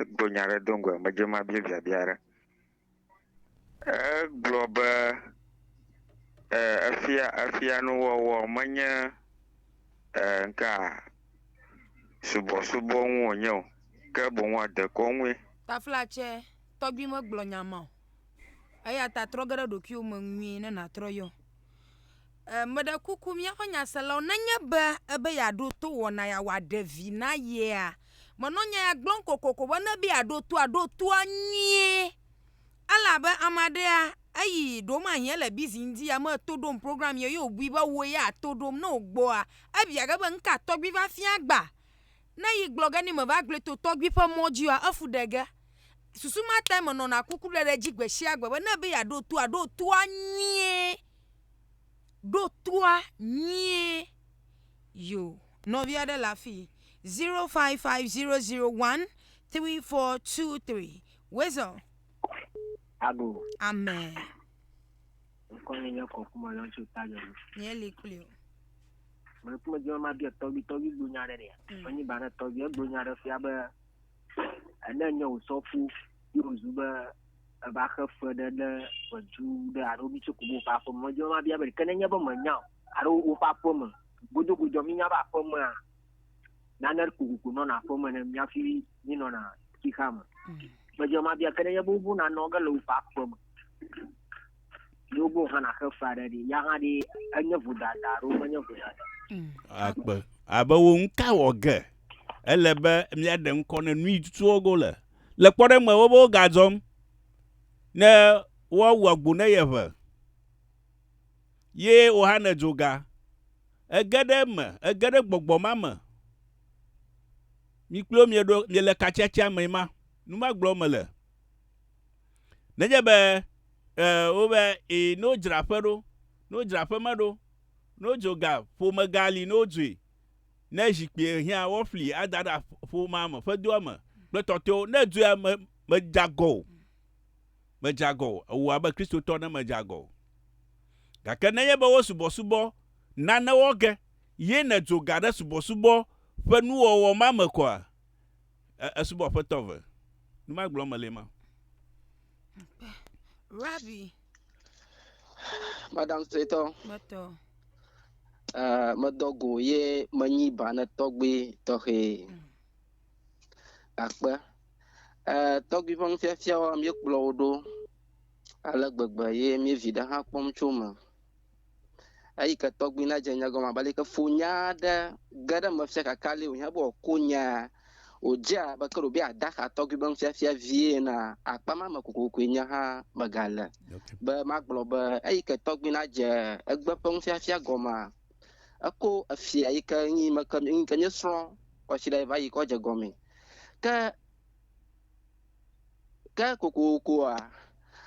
egblɔ nya ɖe do ŋgɔe, medze ma bia biabia ɖe. Egblɔ be, eh, efia, efia nuwɔwɔ menye, eh, ŋka, subɔsubɔ ŋu wònye o, ke boŋ dekɔnue. Taflatse, tɔgbi megblɔ nya ma o. Eya ta trɔ ge ɖe ɖokuiwò me nyuie ne nàtrɔ yɔ. E, meɖe kuku míaƒe nyaselawo, nenye be ebe yeaɖo to wɔna ya wòaɖe vi na yea, menɔ nya ya gblɔm kokoko be ne be yeaɖo to aɖo toa nyuie. Elabe ame aɖea eyi ɖewo mahi ele bizi ŋdi ya meto ɖom program ye ye wòbui be wò ya ato ɖom ne wògbɔa, ebia ge be nu ka tɔgbi va fia gbã? Ne yi gblɔ ge ni me va gble to tɔgbi ƒe mɔ dzi oa, efu ɖe ge. Susu ma tae me nɔna kuku ɖe ɖe dzi gbe sia gbe be ne be ya ɖo toa, ɖo toa nyuie, ɖo toa nyuie. Yo, nɔvi aɖe le afi. Zero five five zero zero one three four two three. Wezɔ. Ago. Amen. Nkɔ nye nye kɔ kuma lɔ tso ta nye. Nye li kuli o. Meleku medzi be mabia tɔgbi tɔgbi gblɔ nya aɖe ɖea. Mm. Menyi ba ne tɔgbi egblɔ nya aɖe fia be ene nye wòsɔ ƒu ye wòzu be eva xe fe ɖe ɖe ʋedu ɖe alo mi tso kubo ƒe aƒeme. Medzi be mabia be ɖeke nenye be menya o alo woƒe aƒeme. Godogodoa minya be aƒemea nane kokoko nɔna aƒeme ne miafi minɔna xixa me. Mm. Medzi be mabia ke nenye be wovo nanɔ ge le woƒe aƒeme. Ɖewo gbɔ hã nàxe fe aɖe ɖi, ya hã ɖi enye vodada alo menye vodada. Akpe. Abe wo ŋu ka wɔ ge. Ele be míaɖe ŋkɔ ne nu yi tutu wo go le. Le kpɔɖe me wobe wogadzɔm ne woawu agbo ne yeʋe. Ye wò hã nèdzo ga. Ege ɖe eme, ege ɖe gbɔgbɔ ma me. Mi kple wo mieɖo miele katsiatsia mee ma. Nu ma gblɔm mele. Nenye be e, wobe e, ne wodzra aƒe ɖo, ne wodzra aƒe me ɖo, ne wodzo ga, ƒome ga li ne wodzoe, ne zikpui hiã woafli ada ɖe ƒomea me, ƒedoa me kple tɔtɔewo, ne dzoea me, medze agɔ o. Medze agɔ o. Ewɔ abe Kristotɔ ne medze agɔ o. Gake nenye be wo subɔsubɔ nane wɔ ge ye nèdzo ga ɖe subɔsubɔ ƒe nuwɔwɔ ma me koa? E, esubɔ Aƒetɔ ve. Nu ma gblɔm mele ma. Rabbi. Madam Sitɔ. Metɔ. Uh, medɔ go ye menyi bane tɔgbi tɔxɛ akpe uh, tɔgbi ƒe nufiafiawo míekplɔ wo ɖo ale gbegbe ye míevi ɖe hã kpɔm tso me Eyike tɔgbi na dze nya gɔme abe aleke fo nya aɖe ge ɖe eme fia kakali wòhiã be wòako nyaa, wòdze abe ke ɖewobe adaxa tɔgbi be nufiafia vie enea, akpa ma me kokokoe nye hã megale be magblɔ be eyike tɔgbi na dze egbe ƒe nufiafia gɔmea, eko efia yike nyi me ke yike míesrɔ̃ kɔsiɖa va yi kɔ dze gɔmee. Ke. Ke kokokoa,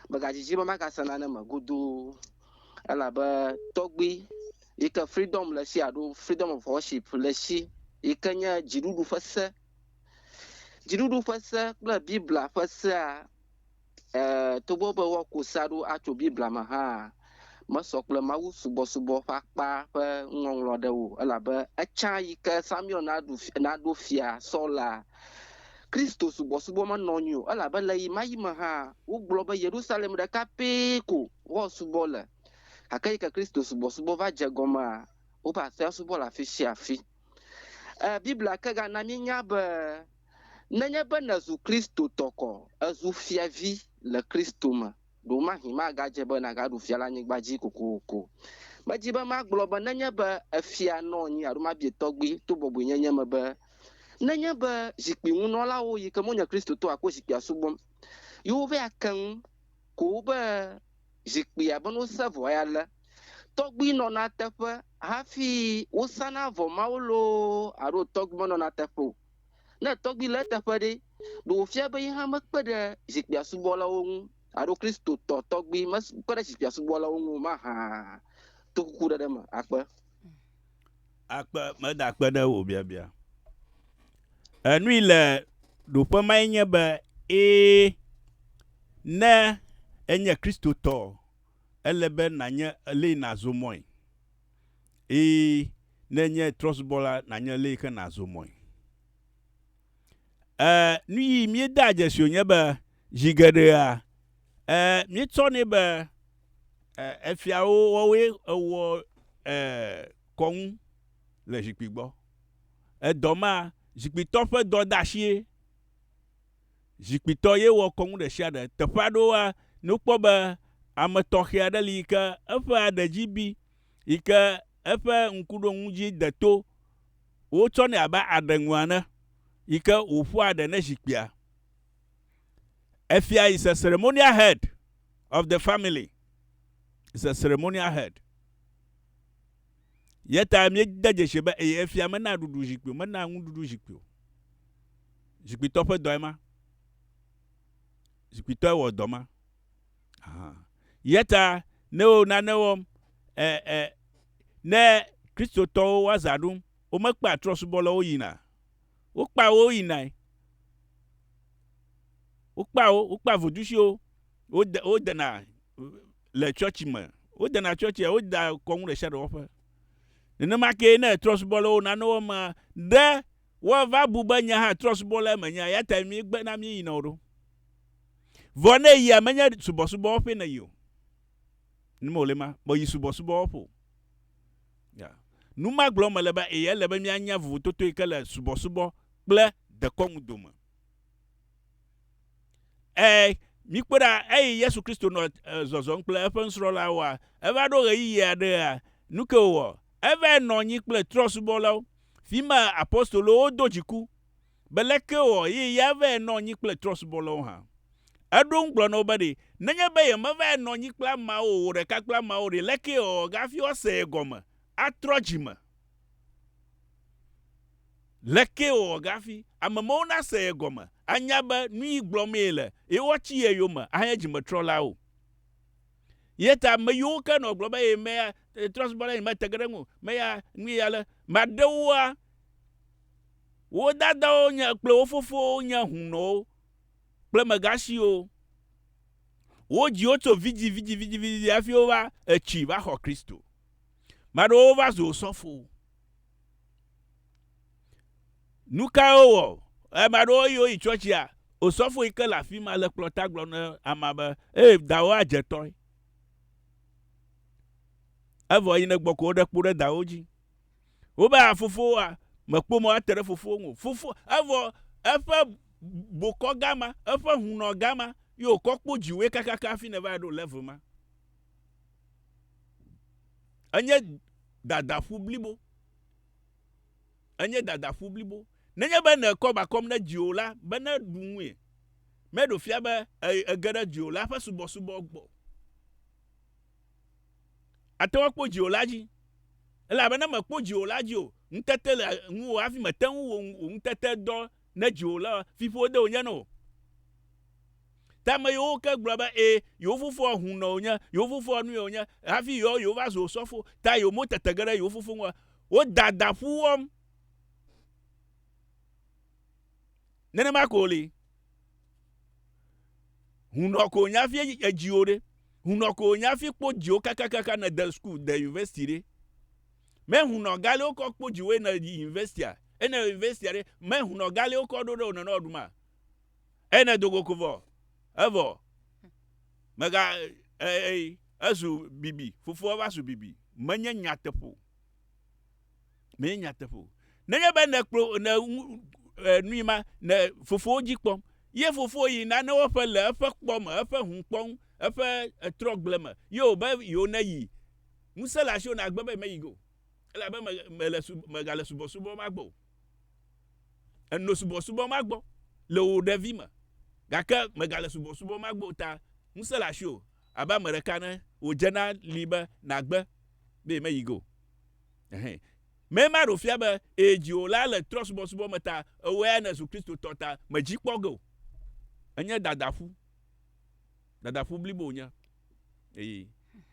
megadidi be magase nane me godoo elabe tɔgbui yi ke Freedom le esi alo Freedom of Worship le esi yi ke nye dziɖuɖu ƒe se. Dziɖuɖu ƒe se kple Biblia ƒe sea, e togbɔ be woako sea ɖo atso Biblia me hãa, mesɔ kple mawusubɔsubɔ ƒe akpa ƒe nuŋɔŋlɔ aɖe o, elabe etsã yi ke Samuel naɖu fi, naɖo fia Saul la, Kristosubɔsubɔ menɔ anyi o, elabe le ɣemaɣi me hã, wogblɔ be Yerusalem ɖeka pɛ ko woasubɔ le. Gake yi ke Kristosubɔsubɔ va dze egɔmea, woƒe aƒea subɔ le afi sia afi. E, Biblia ke gana míenya be nenye be nèzu Kristotɔ kɔ, èzu fiavi le Kristo me. Ɖewomahĩ magadze be nàgaɖu fia le anyigba dzi kokoko. Medi be magblɔ be nenye be èfia nɔ anyi alo mabie tɔgbi to bɔbɔenyenye me be, nenye be zikpuiŋunɔlawo yi ke menye Kristotɔwo akpɔ zikpuia subɔm, ye wova ake ŋu ko be zikpuia be wose vɔ ya le, tɔgbi nɔna teƒe hafi wosana vɔ mawo loo alo tɔgbi menɔna teƒe o. Ne tɔgbi le eteƒe ɖe, ɖe wòfia be ye hã mekpe ɖe zikpuia subɔlawo ŋu alo Kristotɔ tɔgbi mekpe ɖe zikpuia subɔlawo ŋu o mahã to kukuɖeɖe me akpe? Akpe, megakpe ɖe wò biabia enui le ɖoƒe mae nye be, Ẽ, ne ènye Kristotɔ, ele be nànye lee nàzɔ mɔe. Eye ne enye trɔsubɔla nànya le yi ke nàzɔ mɔe. E, nu yi míedea dzesi wònye be zi geɖea, e, míetsɔnɛ be e, efiawo wɔwoe ewɔ e, kɔŋu le zikpui gbɔ. Edɔ ma, zikpuitɔ ƒe dɔdeasie. zikpuitɔ ye wɔ kɔnu ɖesiaɖe. Teƒe aɖewo la, ne wokpɔ be ame tɔxɛ aɖe li yi ke eƒe aɖe dzi bi, yi ke eƒe ŋkuɖonu dzi de to, wotsɔnɛ abe aɖe ŋu ene yi ke wòƒoa ɖe ne zikpuia. Efia is a ceremonial head of the family. Is a ceremonial head. Yeta míede dzesi be eye efia menaa ɖuɖu zikpui o, menaa nuɖuɖu zikpui o. Zikpuitɔ ƒe dɔe ma. Zikpuitɔe wɔ dɔ ma. Yeta ne wo nane wɔm, ɛ, ɛ, ne Kristotɔwo wo azã ɖum, womekpea trɔ̃subɔlawo yina. Wokpea wo yinae. Wokpea wo, wokpea vodusiwo, wode, wodena le tsɔtsi me. Wodena tsɔtsia, woda kɔnu ɖe sia ɖe wɔƒe. Nenema ke ne trɔ̃subɔlawo nane wɔm, ɖe Woava bu be nye hã trɔ̃subɔlae menye, eya tae míegbe na míeyina o ɖo. Vɔ ne èyia, menye subɔsubɔwɔƒee nèyi o. Nu me wòle ma, be yi subɔsubɔwɔƒe o. Ya. Nu ma gblɔm mele be, ee, ele be míanya vovototo yi ke le subɔsubɔ kple dekɔnu dome. Ee, mikpɔe ɖa, eyi Yesu Kristo nɔ zɔzɔm kple eƒe nusrɔ̃lawoa, eva ɖo ɣeyiɣi aɖea, nu kae wòwɔ? Eva nɔ anyi kple trɔ̃subɔlawo, fi ma apostolowo do dziku be leke wòawɔ eye ya ava nɔ anyi kple trɔ̃subɔlawo hã. Eɖo eŋu gblɔ na wo be, Ɖe nenye be yemeva nɔ anyi kple ameawo o, wò ɖeka kple ameawo ɖe, leke yewɔ hafi woase ye gɔme, atrɔ dzi me? Leke yewɔ hafi ame mawo nase ye gɔme, anya be nuyi gblɔm yele, eye woatsi ye yome ahe dzimetrɔ̃lawo? Ye ta ame yiwo ke nɔ gblɔ be ye meya trɔ̃subɔla ye mate ge ɖe eŋu o, meya nui ya le, maɖe woa, wo dadawo nye kple wo fofowo nye hunɔwo kple megasiwo. Wodzi wo tso vidzi vidzi vidzi vidzi hafi wova etsi va xɔ Kristo. Maɖewo va zu osɔfowo. Nu kae wowɔ? Ame aɖewo eye woyi tsɔtsia, osɔfo yi ke le afi ma le kplɔ̃ ta gblɔ na amea be, Ee, dawò adze tɔe. Evɔ yi nègbɔ ko woɖe kpo ɖe dawò dzi. Wobe, A fofowoa, mèkpɔ mɔ ate ɖe fofowò ŋu o. Fofo, evɔ eƒe bokɔ gama, eƒe ŋu nɔ gama ye wòkɔ kpo dziwòe kakaka hafi nèva ɖo level ma. Enye. dadaƒu blibo. Enye dadaƒu blibo. Nenye be nèkɔ ba kɔm ɖe dziwò la be neɖu ŋui, meɖo fia be ège ɖe dziwò la ƒe subɔsubɔ gbɔ. Àte ŋu akpɔ dziwò la dzi, elabe ne mèkpɔ dziwò la dzi o, ŋutete le ŋuwò hafi mète ŋu wò ŋutetedɔ ne dziwò le fiƒode wònye na wò. Te ame yiwo woke gblɔ be, Ẽ, yewo fofoa hunɔ wònye, yewo fofoa nue wònye, hafi yewoa yewova zu wò sɔfo. Ta yewo motete ge ɖe yewo fofo ŋu o. Woda da ƒu wɔm. Nenema ko wòli. Hunɔ ko wònye hafi edzi wò ɖe. Hunɔ ko wònye hafi kpɔ dzi wò kakakaka nède sukuu, de yunivɛsiti ɖe. Me hun nɔ gale wo kɔ kpo dziwe nɔ yi university a. E nɔ university a ɖe, me hun nɔ gale wo kɔ ɖo ɖe o nɔnɔ ɖu ma. E nɔ dogo ko vɔ. E vɔ. Me ga e e e zu bibi. Fofo eva zu bibi. Me nye nya teƒo. Me nye nya teƒo. Ne nye be ne kplo ne ŋu e nui ma ne fofo wo dzi kpɔm. Ye fofo yi na ne wo ƒe le eƒe kpɔ me, eƒe hun kpɔ ŋu, eƒe etrɔ gble me. Ye o be yi o ne yi. Ŋusẽ le asiwò nàgbe be meyi go, elabe mèle, mègale subɔsubɔ ma gbɔ o. Èno subɔsubɔ ma gbɔ le wò ɖevime, gake mègale subɔsubɔ ma gbɔ o ta ŋusẽ le asiwò abe ame ɖeka ene wòdze na li be nàgbe be meyi go. Ɛhɛ. Mee ma ɖo fia be ee, dziwò la le trɔsubɔsubɔ me ta ewɔe nèzu Kristotɔ ta mèdzi kpɔ ge o. Enye dadaƒu. Dadaƒu blibo wònye. Eyi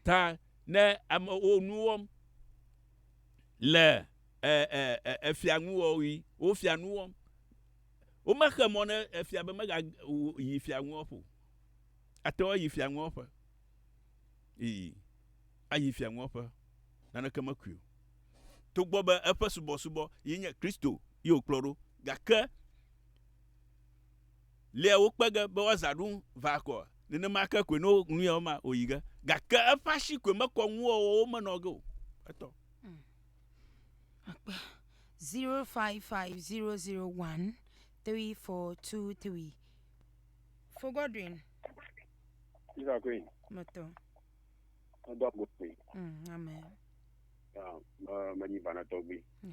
ta ne amewo nu wɔm le efia ŋuwɔɣi, wofia nu wɔm. Womexe mɔ ne efia be megayi fia ŋuwɔƒe o. Ate ŋu ayi fia ŋuwɔƒe. Eyi ayi fia ŋuwɔƒe. Naneke mekui o. Togbɔ be eƒe subɔsubɔ ye nye Kristo ye wòkplɔ ɖo gake lea wo kpe ge be woazã ɖum va akɔ. Nenema ke koe ne wonu ya woma wòyi ge. Gake eƒe asi koe mekɔ nuwɔwɔwo me nɔ ge o. Etɔ. Akpe, 0550013423. Fo Godwin. Sista Queen. Metɔ. Medo agbo kpui. Mm, amen. Ya, me- menyi vanatɔgbi. Yeah.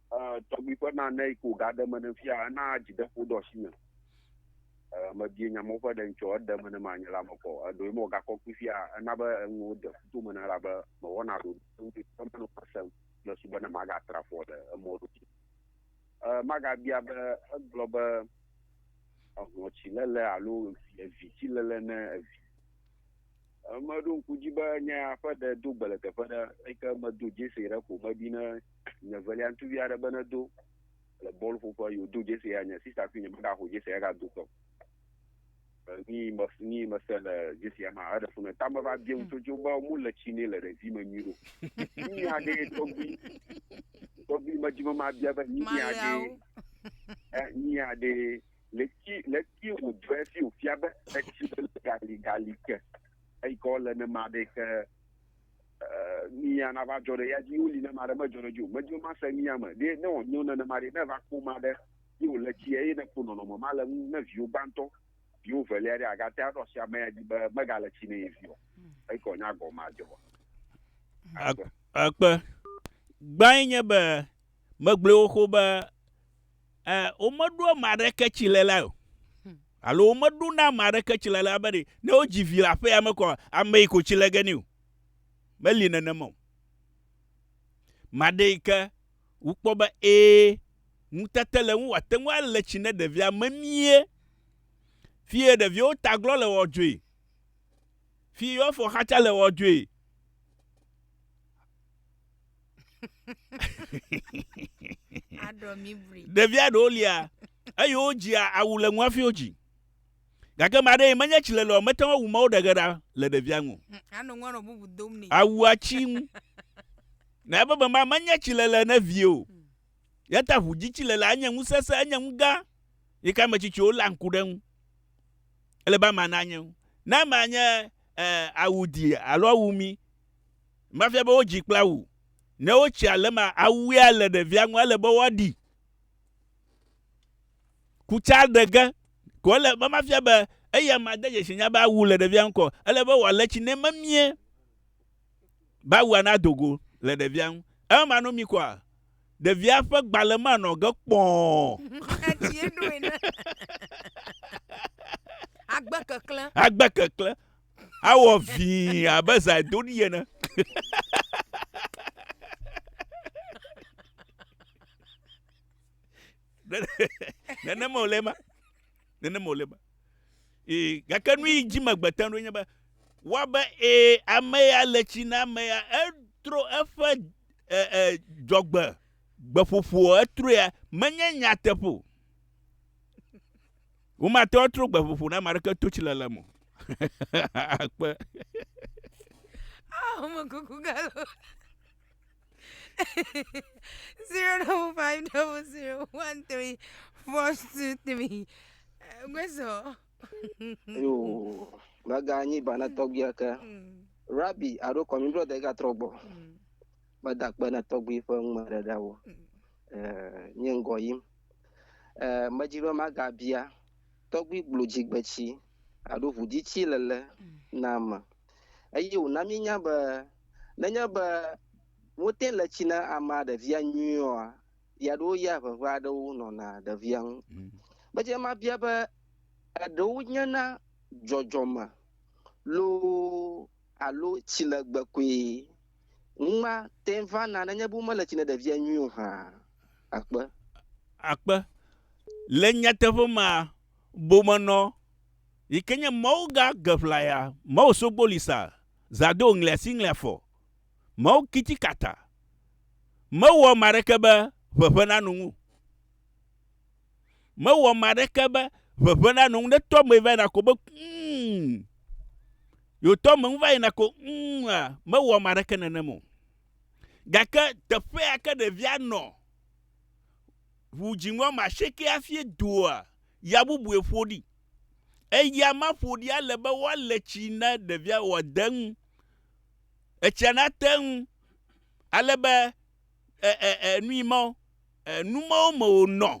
tɔgbui ƒe nane yi ko gaɖe me ne fia ena dzideƒo ɖo asi me mebie nya mɔ ƒe ɖe ŋtsɔ eɖe me ne manye la me kɔ eɖo yi mɔ gakɔ kpui fia ena be enuwo de kuto me ne la be mewɔna ɖo ŋdi ƒe meno kasem le su be ne magatra fɔ le emɔ ɖo dzi magabia be egblɔ be ehlɔtsi lele alo evi tsi lele ne evi Meɖo ŋku dzi be nye ya ƒe ɖe do gbe le teƒe ɖe eyi ke medo dzese ɖe ko medi ne nye velia ŋutsuvi aɖe be nedo le bɔl ƒoƒe yi wòdo dzese ya nye sista kple nye megaxɔ dzese ya gado ke o. Ni me ni mese le dzese ya ma eɖe funu ta me va bia ŋutsu dzo be mu le tsi ne le ɖevi me nyui ɖo. Ni ya ɖe tɔgbi tɔgbi me dzi me ma bia be ni ya ɖe ni ya ɖe leti leti wòdɔe fi wòfia be etsi le gali gali ke eyi ke wole ne ma ɖe ke nuya nava dzɔ ɖe ya dzi woli ne ma ɖe medzɔ ɖe dzi o medzɔ ma se nuya me ɖe ne wònyo nenema ɖe ne va kpɔ ma ɖe ye wòle tsi eye ne kpɔ nɔnɔme ma le ŋu ne viwo gbãtɔ viwo velia ɖe agate aɖo asi ame ya dzi be megale tsi ne ye viwo hmm. eyi ke wònya gɔme adzɔ akpe gbãe nye be megblẽ wo xo be e, womeɖo ame aɖeke tsilela o. Hmm. Alo womeɖo na ame aɖeke tsilela be ne wodzi vi le aƒea me kɔ ame yi ko tsile ge ni o. Meli nenema o. Maɖe yi ke wokpɔ be ee ŋutete le ŋu wòate ŋu ale tsi ne ɖevia memie. Fie ɖeviwo taglɔ le wɔdzoe. Fie yewo afɔ xatsa le wɔdzoe. aɖɔ mi bli ɖevia ɖewo lia eye wodzia awu le ŋu hafi wodzi gake ma ɖee menye tsi lelɔ mete ŋu awu mawo ɖegeɖa le ɖevia ŋu Hm, anɔ ŋua nɔ bubu dom nɛ awua tsi ŋu na ebe be ma menye tsi lele ne vie o yata ʋu dzi tsi lele anye ŋu sese enye ŋu gã yi ke ame tsitsiwo la ŋku ɖe ŋu ele be ama nanye ŋu ne ama nye eh, awu di alo awu mi Mafia be wodzi kple awu. Ne wotsi ale ma awuea le ɖevia ŋu ele be woaɖi. Kutsa ɖe ge ko ele be mafia be eya ma de dzesi nya be awu le ɖevia ŋu kɔ ele be wòale tsi ne memie be awua nado go le ɖevia ŋu. Eme ma no mi kɔa ɖevia ƒe gbalẽ ma nɔ ge kpɔɔ. Agbe keklẽ. Agbe keklẽ. awɔ vii abe zaidoɖi ene. nenema wòle ma nenema wòle ma ee gake nu yi dzi megbete ɖo nye be wa be ee ame ya le tsi na ame ya etro eƒe e e dzɔgbe gbeƒoƒo etroe menye nyateƒo. Womate ŋu atrɔ gbeƒoƒo na ame aɖeke to tsilele me o. Akpe. Oh, my cuckoo gallo. zero double five double zero one three four two three. Gweso. Yo, maga nyi bana tɔgbia ke. Mm. Rabbi, aro kɔmi bro de ga trɔgbɔ. Mm. Mada kpe na tɔgbi ƒe ŋmɛ ɖe ɖa wo. Mm. Eh, nye ngɔ yim. eh, medzi be magabia tɔgbui gblodzi-gbetsi alo ʋudzitsi lele na ame. Eye wòna míenya be nenye be wote le tsi na amea ɖevia nyuiɔa, ya ɖewo ya ʋeʋe aɖewo nɔna ɖevia ŋu. Mm. Medze mabia be eɖewo nyena dzɔdzɔme loo alo tsilegbe koe ŋma te vana nenye be womele tsi ne ɖevia nyuie o hã. Akpe. Akpe. Le nyateƒe me a, bomenɔ yi ke nye Mawu gã geʋlaya, Mawu sogboli sa, zado ŋlea si ŋlea fɔ, Mawu kiti kata, mewɔ ame aɖeke be ʋeʋẽ nanu ŋu. Mewɔ ame aɖeke be ʋeʋẽ nanɔ ŋu ne tɔ me va yina ko be mm. Yewo tɔ me ŋu va yina ko mm a, mewɔ ame aɖeke nenem o. Gake teƒea ke ɖevia nɔ ʋu dziŋɔ ame asieke hafi doa ya bubue ƒo ɖi. Eya ma ƒo ɖi ale be woale tsi na ɖevia wòade eŋu. Etsia nate ŋu ale be nui mawo nu mawo me wònɔ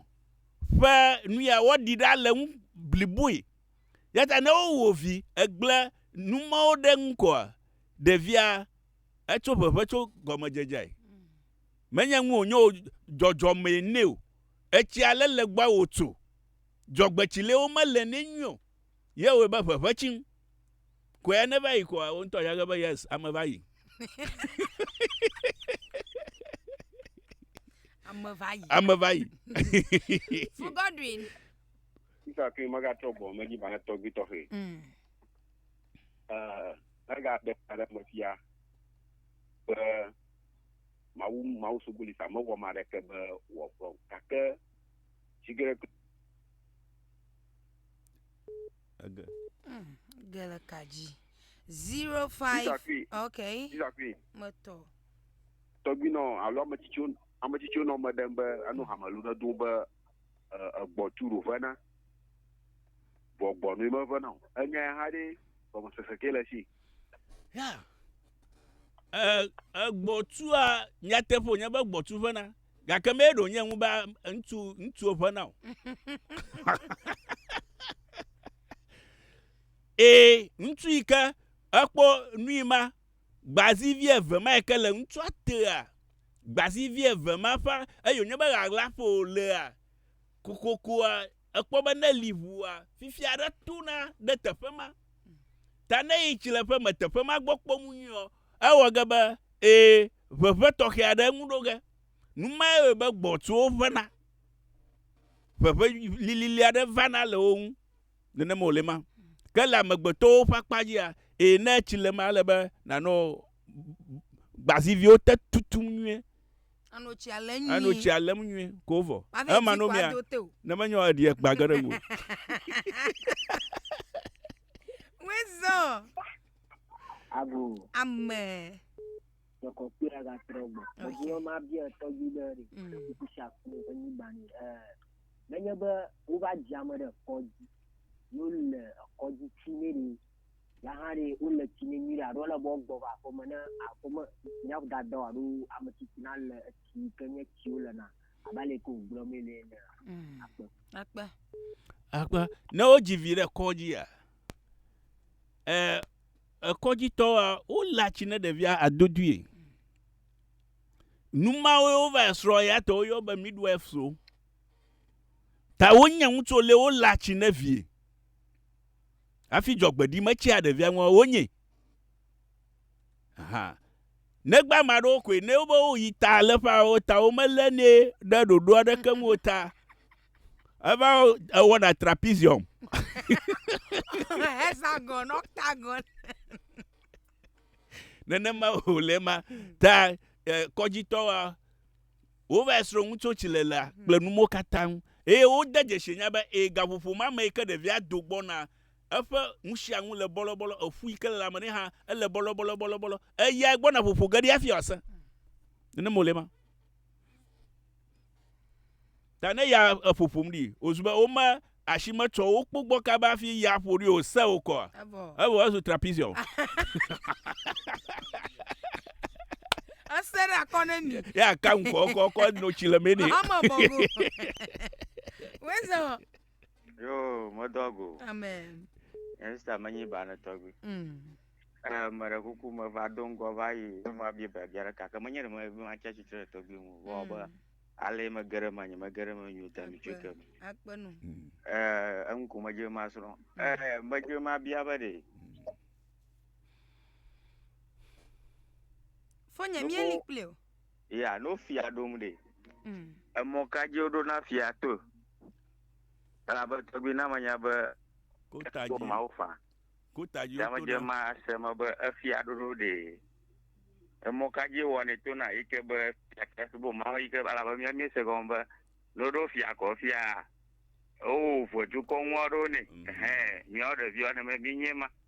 ƒe nu ya woaɖi ɖa le eŋu bliboe. Eya ta ne wowɔ vi egblẽ nu mawo ɖe eŋu koa, ɖevia etso ʋeʋẽ tso gɔmedzedzeae. Menye nu wònye o, dzɔdzɔmee nɛ o. Etsi ale le gbɔa wòtso. Dzɔgbetsilewo mele nɛ nyuie o. Yewɔe be ʋe ʋe tsim. Kɔe ne va yi koa wo ŋutɔ ya ge be yes ame va yi. Ame va yi. Ame va yi. Fu Godwin. Sisa ke magatrɔ gbɔ medzi va ne tɔgbi tɔxɛ. Mm. Eh, ega de ale me fia be mawu mawu suguli sa mewɔ ma ɖeke be wɔgbɔ gake sigere Ege. Ge le ka dzi. Zero five. Peter Queen. Okay. Peter Queen. Metɔ. Tɔgbinɔ alo ame tsitsiwo ame tsitsiwo nɔ me ɖem be enu hamelu ɖe do be eh, egbɔ tu ɖo ʋena. Vɔ gbɔ nui meʋena o. Enya ya hã ɖe gɔmesese ke le si. Ya. Eh, egbɔtua nyateƒe wònye be gbɔtu ʋena. Gake mee ɖo nye ŋu be ŋutsu ŋutsuwo ƒe na o. Ee, ŋutsu yi ke ekpɔ nui ma gbazivi eve ma yi ke le ŋutsua tea gbazivi eve ma ƒe eye wònye be ɣaɣla ƒo wòlea kokokoa ekpɔ be ne li ʋua fifi aɖe tona ɖe teƒe ma. Ta ne yi tsileƒe me teƒe ma gbɔ kpɔm nyuiɔ Ewɔ ge be, ẽ, ʋeʋẽ tɔxɛ aɖe ŋu ɖo ge. Nu mae wɔe be gbɔ̃tsuwo ʋẽna. Ʋeʋẽ lilili aɖe vana le wo ŋu. Nenema wòle ema. Ke le amegbetɔwo ƒe akpa dzia, ẽ, ne etsi le ema, ele be nànɔ gbaziviwo te tutum nyuie. Ànɔ tsia lém nyuie. Ànɔ tsia lém nyuie ko vɔ. Ema nɔ mea, ne menye ɔ, eɖi ekpa ge ɖe ŋuwò. Ago. Ame. Tɔkɔ kpe la ga trɔ gbɔ. Ebi wɔn ma bia tɔgbi ɖe ɖe. Kuku si aku ne enyi gbani. Ɛɛ nenye be wova dzi ame ɖe kɔdzi. Yo le kɔdzi tsi ne ɖe. Ya hã ɖe wo le tsi ne nyuie aɖo le bɔ gbɔ va aƒeme ne aƒeme nya da dɔ aɖo ame tsitsi na le etsi ke nye tsi wo le na. Aba le ko gblɔ me le ne. Akpe. Akpe. Akpe. Ne wo dzi vi ɖe kɔdzi ya. E, ekɔdzitɔwoa, wolé atsi ne ɖevia adodui. Numawoe wova esrɔ ya tɔ woyɔ be midwives-o. Ta wonye ŋutsu lé wolé atsi ne vie. Afi dzɔgbeɖi metsia ɖevia ŋua wonye. Aha. Negba maɖewo koe ne wobe woyi ta le ƒa o ta womelé ne ɖe ɖoɖo aɖeke ŋu ta Eva ewɔ ɖa trapezium. Hexagon, octagon. Nenema wòle ema. Ta eh, kɔdzitɔwoa, wova esrɔ̃ ŋutsotsi le la kple numo katã ŋu. Eye wode dzesi nya be ee, gaƒoƒo ma me yi ke ɖevia do gbɔna, eƒe ŋusiaŋu le bɔlɔbɔlɔ, eƒu yi ke le la me nɛ hã, ele bɔlɔbɔlɔbɔlɔbɔlɔ. Eyae gbɔna ƒoƒo ge ɖi hafi wòasẽ. Nenema wòle ema. Ta ne ya eƒo ƒom ɖi wòzu be wome asi metsɔ wo kpo gbɔ kaba hafi ya ƒo ɖi o, se wokɔ. Evɔ. Evɔ ezu trapezium. Ese ɖe akɔ ne mi. Ya ka ŋkɔ kɔ kɔ no tsi le mɛ nɛ. Ame bɔgo. Wezɔ. Yo, medo ago. Amen. Esta menyi ba ne tɔgbi. Mm. Eh, me ɖe kuku me va do ŋgɔ va yi ne ma bia biabia ɖe kake menye ɖe me be ma tsia tsitre ɖe tɔgbi ŋu vɔ be mm. ale me ge ɖe me nye me ge ɖe me nyo da mi tso ke me. Akpe nu. Mm. Eh, enu ko me dze ma srɔ̃. Mm. Eh, me dze ma bia be ɖe. Fo nye mi eli kple o. Ya, no fia ɖom ɖe. Mm. Emɔ ka dzi woɖo na fia to? Elabe tɔgbi na menya be kota dzi mawo fa. Kota dzi woto na. ma se me be efia ɖoɖo ɖe. Emɔ ka dzi wɔnɛ to na yi ke be fia ke subo mawo yi ke elabe mía mí se gɔme be ne woɖo fia kɔ fia wowu ʋɔdukɔ ŋua ɖo nɛ. Mm. Hɛn, mía ɖeviwo ne mí nye ma.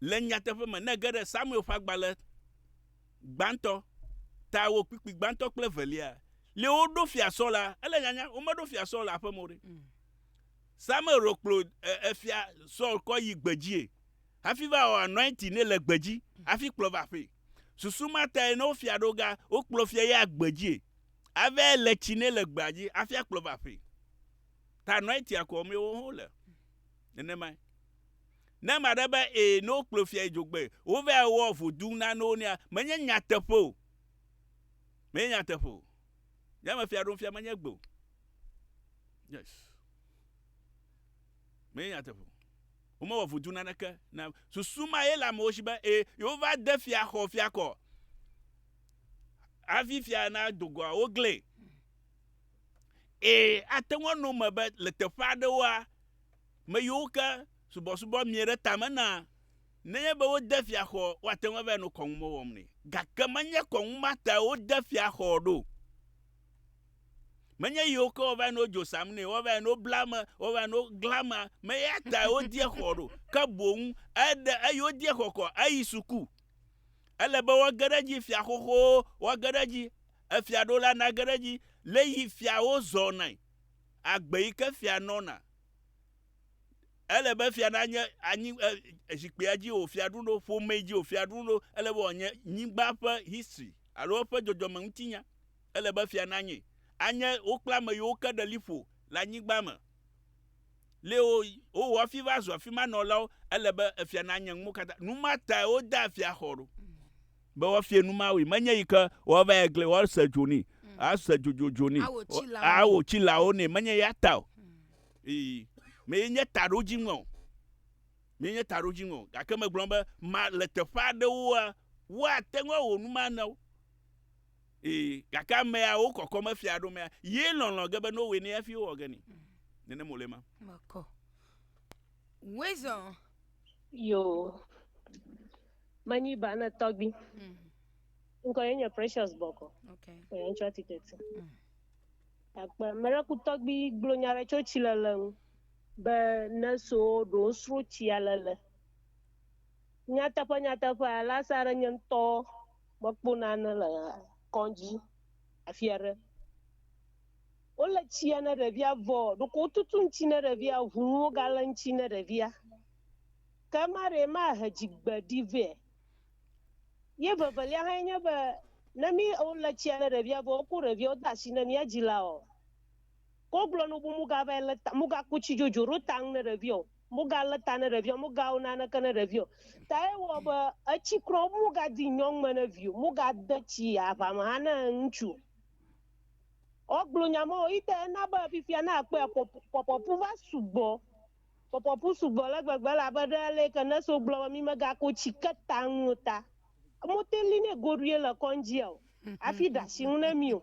Le nyateƒe me, ne ège ɖe Samuel ƒe agbalẽ gbãtɔ, Tawo kpikpi gbãtɔ kple evelia, li woɖo Fia Saul la, ele nyanya, womeɖo Fia Saul le aƒe me o ɖe. Mm. Samuel ɖo kplo e, efia Saul kɔ yi gbedzie hafi va wɔ anointing nɛ le gbedzi hafi kplɔ va aƒee. Susu ma tae ne wofia ɖo ga, wokplɔ fia ya gbedzie ave le tsi nɛ le gbea dzi hafi akplɔ va aƒee. Ta anointing akɔ mee wo hã wole. Nenemae. Ne ame aɖe be ee ne wokplɔ fia yi dzogbe, wova ewɔ vodu nanewo nea, menye nyateƒe o. Menye nyateƒe o. Nyame fia ɖom fia menye gbe o. Yes. Menye nyateƒe o. Womewɔ vodu naneke na susu ma ye le amewo si be ee yewova de fia xɔ fia kɔ. Hafi fia na dogoa woglẽ. Ee, ate ŋu anɔ eme be le teƒe aɖewoa, me yiwo ke subɔsubɔ mie ɖe tame na, nenye be wode fiaxɔ woate ŋu ava nɔ kɔnu me wɔm nɛ. Gake menye kɔnu ma tae wode fiaxɔ ɖo. Menye yiwo ke woava nɔ dzo sam nɛ, woava nɔ bla ame, woava nɔ gla amea, me ya tae wodie xɔ ɖo. Ke boŋ eɖe eyi wodie xɔ kɔ eyi suku. Ele be woage ɖe edzi fiaxoxowo, woage ɖe edzi. Efia ɖo la nage ɖe edzi le yi fiawo zɔnae, agbe yi ke fia nɔna. Ele be fia nanye anyi zikpuia dzi wò fia ɖum ɖo, ƒomee dzi wò fia ɖum ɖo, ele be wòanye nyigba ƒe history alo eƒe dzɔdzɔme ŋuti nya. Ele be fia nanye. Anye wo kple ame yiwo ke ɖe liƒo le anyigba me. lé wo wowɔ hafi va zu afi ma nɔlawo, ele be efia nanye nu katã. Nu ma tae wodea fiaxɔ ɖo be woafia nu ma wui. Menye yi ke woava yi gli woase dzo nɛ, ase dzodzodzodzo nɛ, Awɔ tsilawo. awɔ tsilawo nɛ. Menye ya ta o. Ii, mee nye taɖodziŋɔ o. Mee nye taɖodziŋɔ o. Gake megblɔ be ma le teƒe aɖewoa, woate ŋu awɔ nu ma na wo. Ee, gake amea wo kɔkɔ me fia ɖo mea, ye lɔlɔ ge be no we ne afi wɔ ge ni. Nene mo le ma. Makɔ. Wezɔ. Yo. Manyi ba ne tɔgbi. Mm. Nko ye nye Precious Boko. Okay. Ko ye ncho ticket. Mm. Akpa mere ku tɔgbi glo nyare cho chi le le nu. Be ne so ɖo sro chi ale le. Nyateƒe nyateƒe alasa re nye ŋtɔ. Mekpɔ nane le kɔdzi afi aɖe. Wole tsia ne ɖevia vɔ ɖeko wotutu ŋuti ne ɖevia, ŋu nuwo gale ŋuti ne ɖevia. Ke ema ɖee mahe dzigbe ɖi vɛ. Ye vevelia hãe nye be, ne mí wole tsia ne ɖevia vɔ wokɔ ɖeviawo de asi na mía dzilawoa, ke wogblɔ nu be mugava le ta, mugaku tsi dzodzo ɖo ta ŋu ne ɖevia o. Mogalé ta ne ɖevi o, mogawo naneke ne ɖevi o. Ta ye wɔ be etsi kura wo, mogadi nyɔnu me ne vi o, mogade tsi aʋa me hã ne ŋutsu o. Wo gblɔ nya ma wo yi ta ena be fifia ne akpɔe a, pɔpɔpu va sugbɔ. Pɔpɔpu sugbɔ ale gbegbe elabe ɖe ale yi ke nurse wo gblɔ be mi megako tsi ke ta ŋu o ta, mote li nɛ goɖui le kɔndzia o, hafi ɖe asi ŋu ne mi o.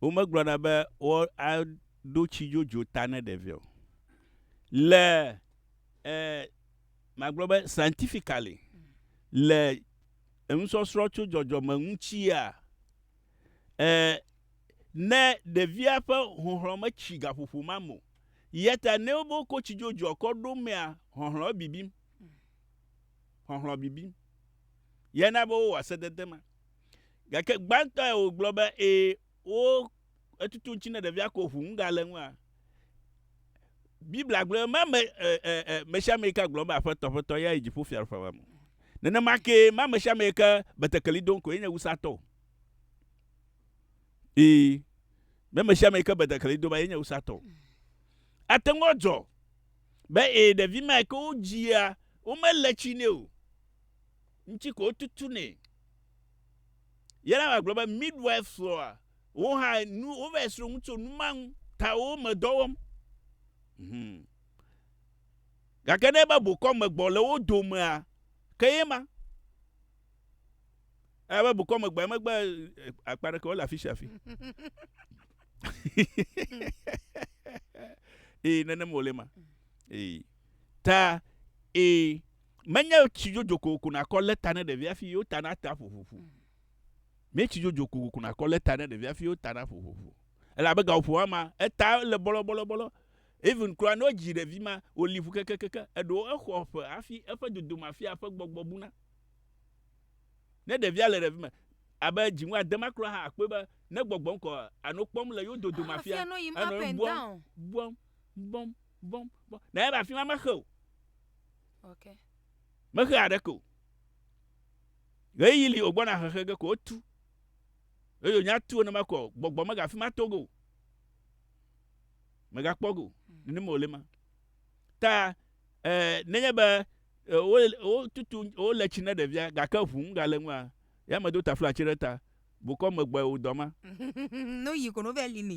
womegblɔna be woaɖo tsi dzodzo ta ne ɖevia o. Le e magblɔ be scientifically le enusɔsrɔ̃ tso dzɔdzɔme ŋutia e ne ɖevia ƒe hlɔ̃hlɔ̃ metsi gaƒoƒo ma me o yata ne wobe wokɔ tsi dzodzoa kɔ ɖo mea hlɔ̃hlɔ̃ bibim. Hlɔ̃hlɔ̃ bibim. Ye na be wowɔa sedede ma. Gake gbãtɔe wògblɔ be, Ee, wo etutu ŋuti ne ɖevia ko ʋu ŋuga le ŋua. Biblia gblɔ ma me mesiame ke gblɔ be aƒetɔ aƒetɔ ya yi dziƒo fia ƒe me. Nenema ke ma mesiame ke betekeli dom ko yenye wusatɔ. Ee, me mesiame ke betekeli dom yenye wusatɔ. Ate ŋu dzɔ be ee ɖevi ma ke wodzia womele tsi nɛ o. ŋuti ko wotutunɛ. Yelama gblɔ be, Midwife srɔ̃a wo hã nu wovae srɔ̃ nu tso nu ma ŋu ta wo me dɔ wɔm. Hum. Gake ne ebe bokɔ me gbɔ le wo domea, ke ye ma. Ebe bokɔ me gbɔ megbe akpa ɖeke wole afi sia afi. Ee, nenem wòle ma. Ee. Ta, ee, menye tsi dzodzo kokoko nakɔ lé ta ne ɖevi hafi yewo ta nate aƒo ƒoƒo. Menye tsi dzodzo kokoko nakɔ lé ta ne ɖevi hafi yewo ta naƒo ƒoƒo. Elabe gaƒoƒo ma ma, eta le bɔlɔbɔlɔbɔlɔ. Even kura ne wodzi ɖevi ma, wòli ƒu kekekeke. Eɖewo exɔ ƒe hafi eƒe dodome afia eƒe gbɔgbɔ buna. Ne ɖevia le ɖevi me, abe dziŋu ade ma kura hã akpɔe be ne gbɔgbɔ ŋkɔ anɔ kpɔm le yewo dodome afia, enɔ bɔm, bɔm, bɔm, bɔm, bɔm. Na ebe afi ma mexe o. Mexea aɖeke o. Ɣeyiɣi li wògbɔna xexe ge ko wotu. Eye wònye atu wo ne mekɔ o. Gbɔgbɔ megafi ma to ge o. Megakpɔ ge o. Nenema wòle ma. Ta eh, nenye be eh, wotutu, wole tsi ne ɖevia, gake ʋu ŋu gale ŋua, ya medo taflatsi ɖe ta. Bukɔ megbɔe wò dɔ ma. No yi kono vɛ li ni.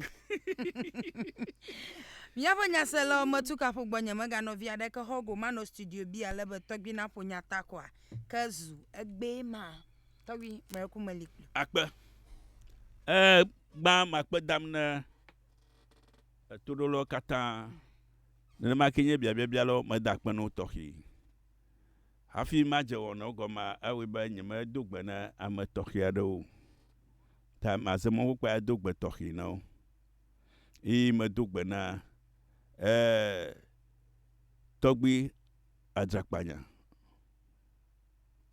Miaƒe nyaselawo me tu kaƒo gbɔ nye mega nɔvi aɖe ke xɔ go manɔ studio bi ale be tɔgbi na ƒo nya ta kɔa ke zu egbee ma tɔgbi me ku me li kpli. Akpe. E gba makpe dam ne etoɖolɔ katã. Nenema ke nye biabiabia lɔ me da kpe no tɔxi. Hafi madze wɔnɔ gɔmea, ewɔe be nyemedo gbe na ame tɔxɛ aɖewo o, ta maze mɔ kpukpui ado gbe tɔxɛ na wo. Eye medo gbe na e tɔgbui adzrakpanya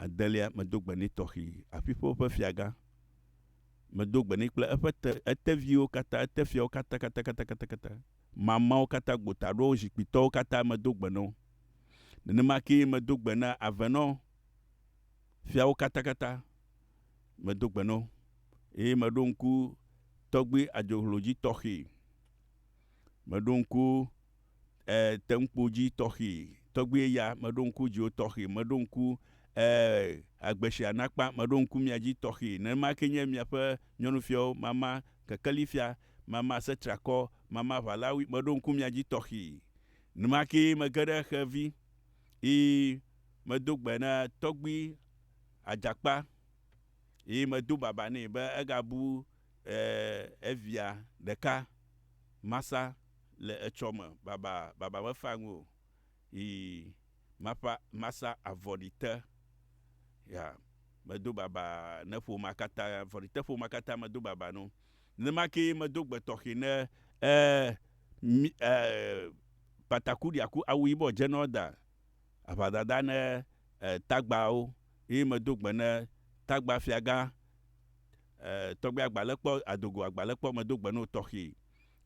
adelia, medo gbe nɛ tɔxɛ, aƒiƒewo ƒe fiagã, medo gbe nɛ kple eƒe te, eteviwo katã, etefiawo katã, katã, katã, katã, katã. mamãwo katã gbotadrowo zikpuitɔwo katã medo gbe na wo. Nenema kee medo gbe na avenɔ fiawo katakata, medo gbe na wo, eye meɖo ŋku tɔgbui adzohlo dzi tɔxɛ, meɖo ŋku, e, teŋkpo dzi tɔxɛ, tɔgbui ya, meɖo ŋku dziwo tɔxɛ, meɖo ŋku, e, agbeshia nakpa, meɖo ŋku mia dzi tɔxɛ. Nenema kee nye miaƒe nyɔnufiawo mamã kekeli fia Mama se triakɔ, mama ʋalawi, meɖo ŋku mia dzi tɔxee. Numake mege ɖe xe vi, eye medo gbe na tɔgbui adzakpa, eye medo baba nɛ be egabu evia ɖeka masa le etsɔ me baba, baba mefaa ŋui o, eye maƒa, masa avɔɖite, ya, medo baba ne ƒomea katã, avɔɖite ƒomea katã medo baba no. Nenema kee medo gbe tɔxɛ ne eh mi eh pataku ɖiaku awu yibɔ dzenɔ da aʋadada ne eh tagbawo eye medo gbe ne tagba fiagã eh tɔgbe agbalekpɔ adogo agbalekpɔ medo gbe no tɔxɛ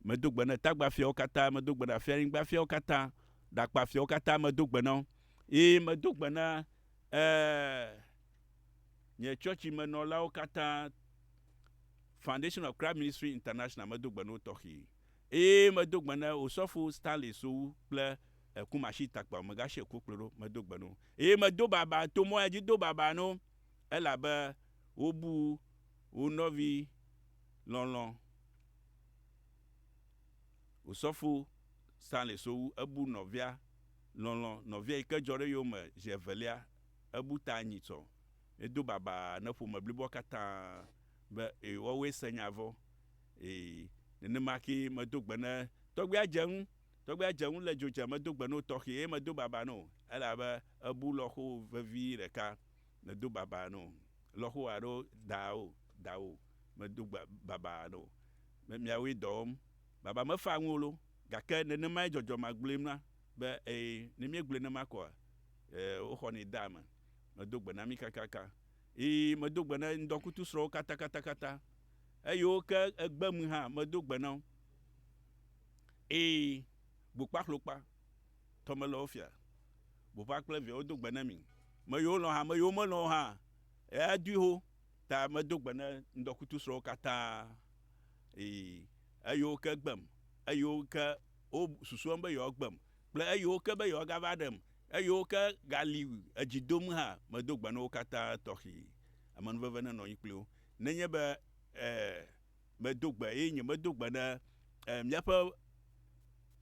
medo gbe ne tagba fiawo kata medo gbe na fianyigba fiawo kata ɖakpa fiawo kata medo gbe nɔ eye medo gbe ne eh. Nye tsɔtsimenɔlawo katã, Foundation of Christ Ministry International medo gbe na wo tɔxɛe, eye medo gbe na Osɔfo Stanley Sowu kple Kumasitakpawo megashi eko kplɔe ɖo, medo gbe na wo, eye medo baba, to mɔ ya dzi do baba na wo, elabe wobu wo nɔvi lɔlɔ̃, Osɔfo Stanley Sowu, ebu nɔvia lɔlɔ̃, nɔvia yi ke dzɔ ɖe yewome zi evelia, Ebu ta anyi tsɔ edo babaa ne ƒome bliboa katã be, Ẽ, woawoe se nya vɔ̃. Ẽ, nenema kee medo gbe ne tɔgbuia dze ŋu. Tɔgbuia dze ŋu le dzodze, medo gbe no tɔxɛ eye medo babaa no, elabe ebu lɔxo vevi ɖeka. Medo babaa no lɔxo alo daawo, daawo, medo gbe babaa no be miawoe dɔ wɔm. Baba mefaa ŋu o lo, gake nenemae dzɔdzɔ magblɔe mla. Be, Ɛɛ, ne míegblɔe nenema koa, ɛɛ, woxɔnɛ dea eme. Medo gbe na mí kakaka. Yi, medo gbe na ŋdɔkutu srɔ̃wo katakatakata. Eyiwo ke egbe ŋui hã, medo gbe na wo. Ɛɛ, gbokpaxlokpa, tɔmelɔwofia, bopa kple viawo do gbe na mi. Me yiwo lɔ̃ hã, me yiwo melɔ̃ o hã, ɛɛ, adui xoxo ta medo gbe na ŋdɔkutu srɔ̃wo katã. Ɛɛ, eyiwo ke egbem, eyiwo ke wo susuem be yewoagbem, kple eyiwo ke be yewoagava ɖem, eyiwo ke gali edzi dom hã, medo gbe na wo katã tɔxi. Amenuveve nenɔ anyi kpli wo. Nenye be, e, medo gbe, eye nye medo gbe na, e, míaƒe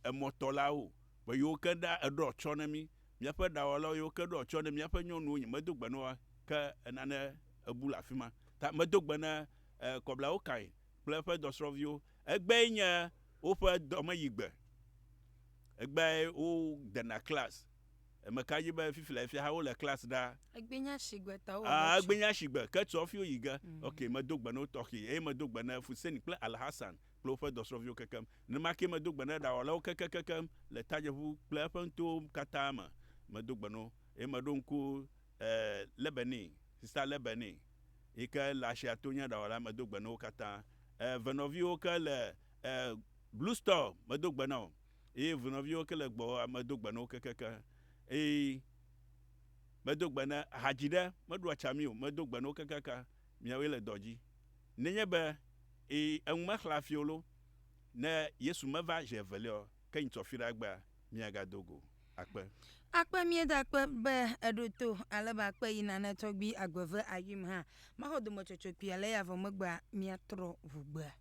emɔtɔlawo be yewo ke na eɖɔ atsyɔ na mí, míaƒe ɖawɔlawo yewo ke ɖɔ atsyɔ na míaƒe nyɔnuwo, nye medo gbe na woa, ke enane ebu le afima. Ta medo gbe na, e, kɔblawo kae kple eƒe dɔsrɔ̃viwo, Egbee nye woƒe dɔmeyigbe. Egbee wodena klas. Eme ka dzi be fifilɛ fia hã wole klas ɖaa? Egbee nye shigbe ta wowɔ Ah, egbee nye etsɔ. shigbe ke tsɔ fi woyi ge. Ok, medo gbe na wo tɔxee. Eye medo gbe na Fusein kple Alhassan kple woƒe dɔsrɔ̃viwo kekem. Nenema kee medo gbe na ɖawɔlawo kekekekem le Tadjeƒu kple eƒe nutowo katã me. Medo gbe na wo. Eye meɖo ŋku, eh, Lebenin, Sista Lebenin. yi ke le Asia to nye aɖawɔla medo gbe na wo katã. E ve nɔviwo ke le e Blue Store medo gbe na wo eye ve nɔviwo ke le gbɔwòa medo gbe na wo kekekeŋ eye medo gbe na hadzi ɖe meɖu atsa mi o medo gbe na wo kekekeŋ miawoe le dɔ dzi nenye be e eŋu mexlẽ afi o lo ne Yesu meva zi eveliaɔ Ke nyi tsɔ fiɖa gbea mia ga do go akpe. Akpe mie da kpe be eɖo to ale be akpe yi nane tɔgbi agbe ve ayuim ha ma xɔ dome tsɔtsɔ kpi ale ya vɔ megbea mia trɔ ʋu gbea.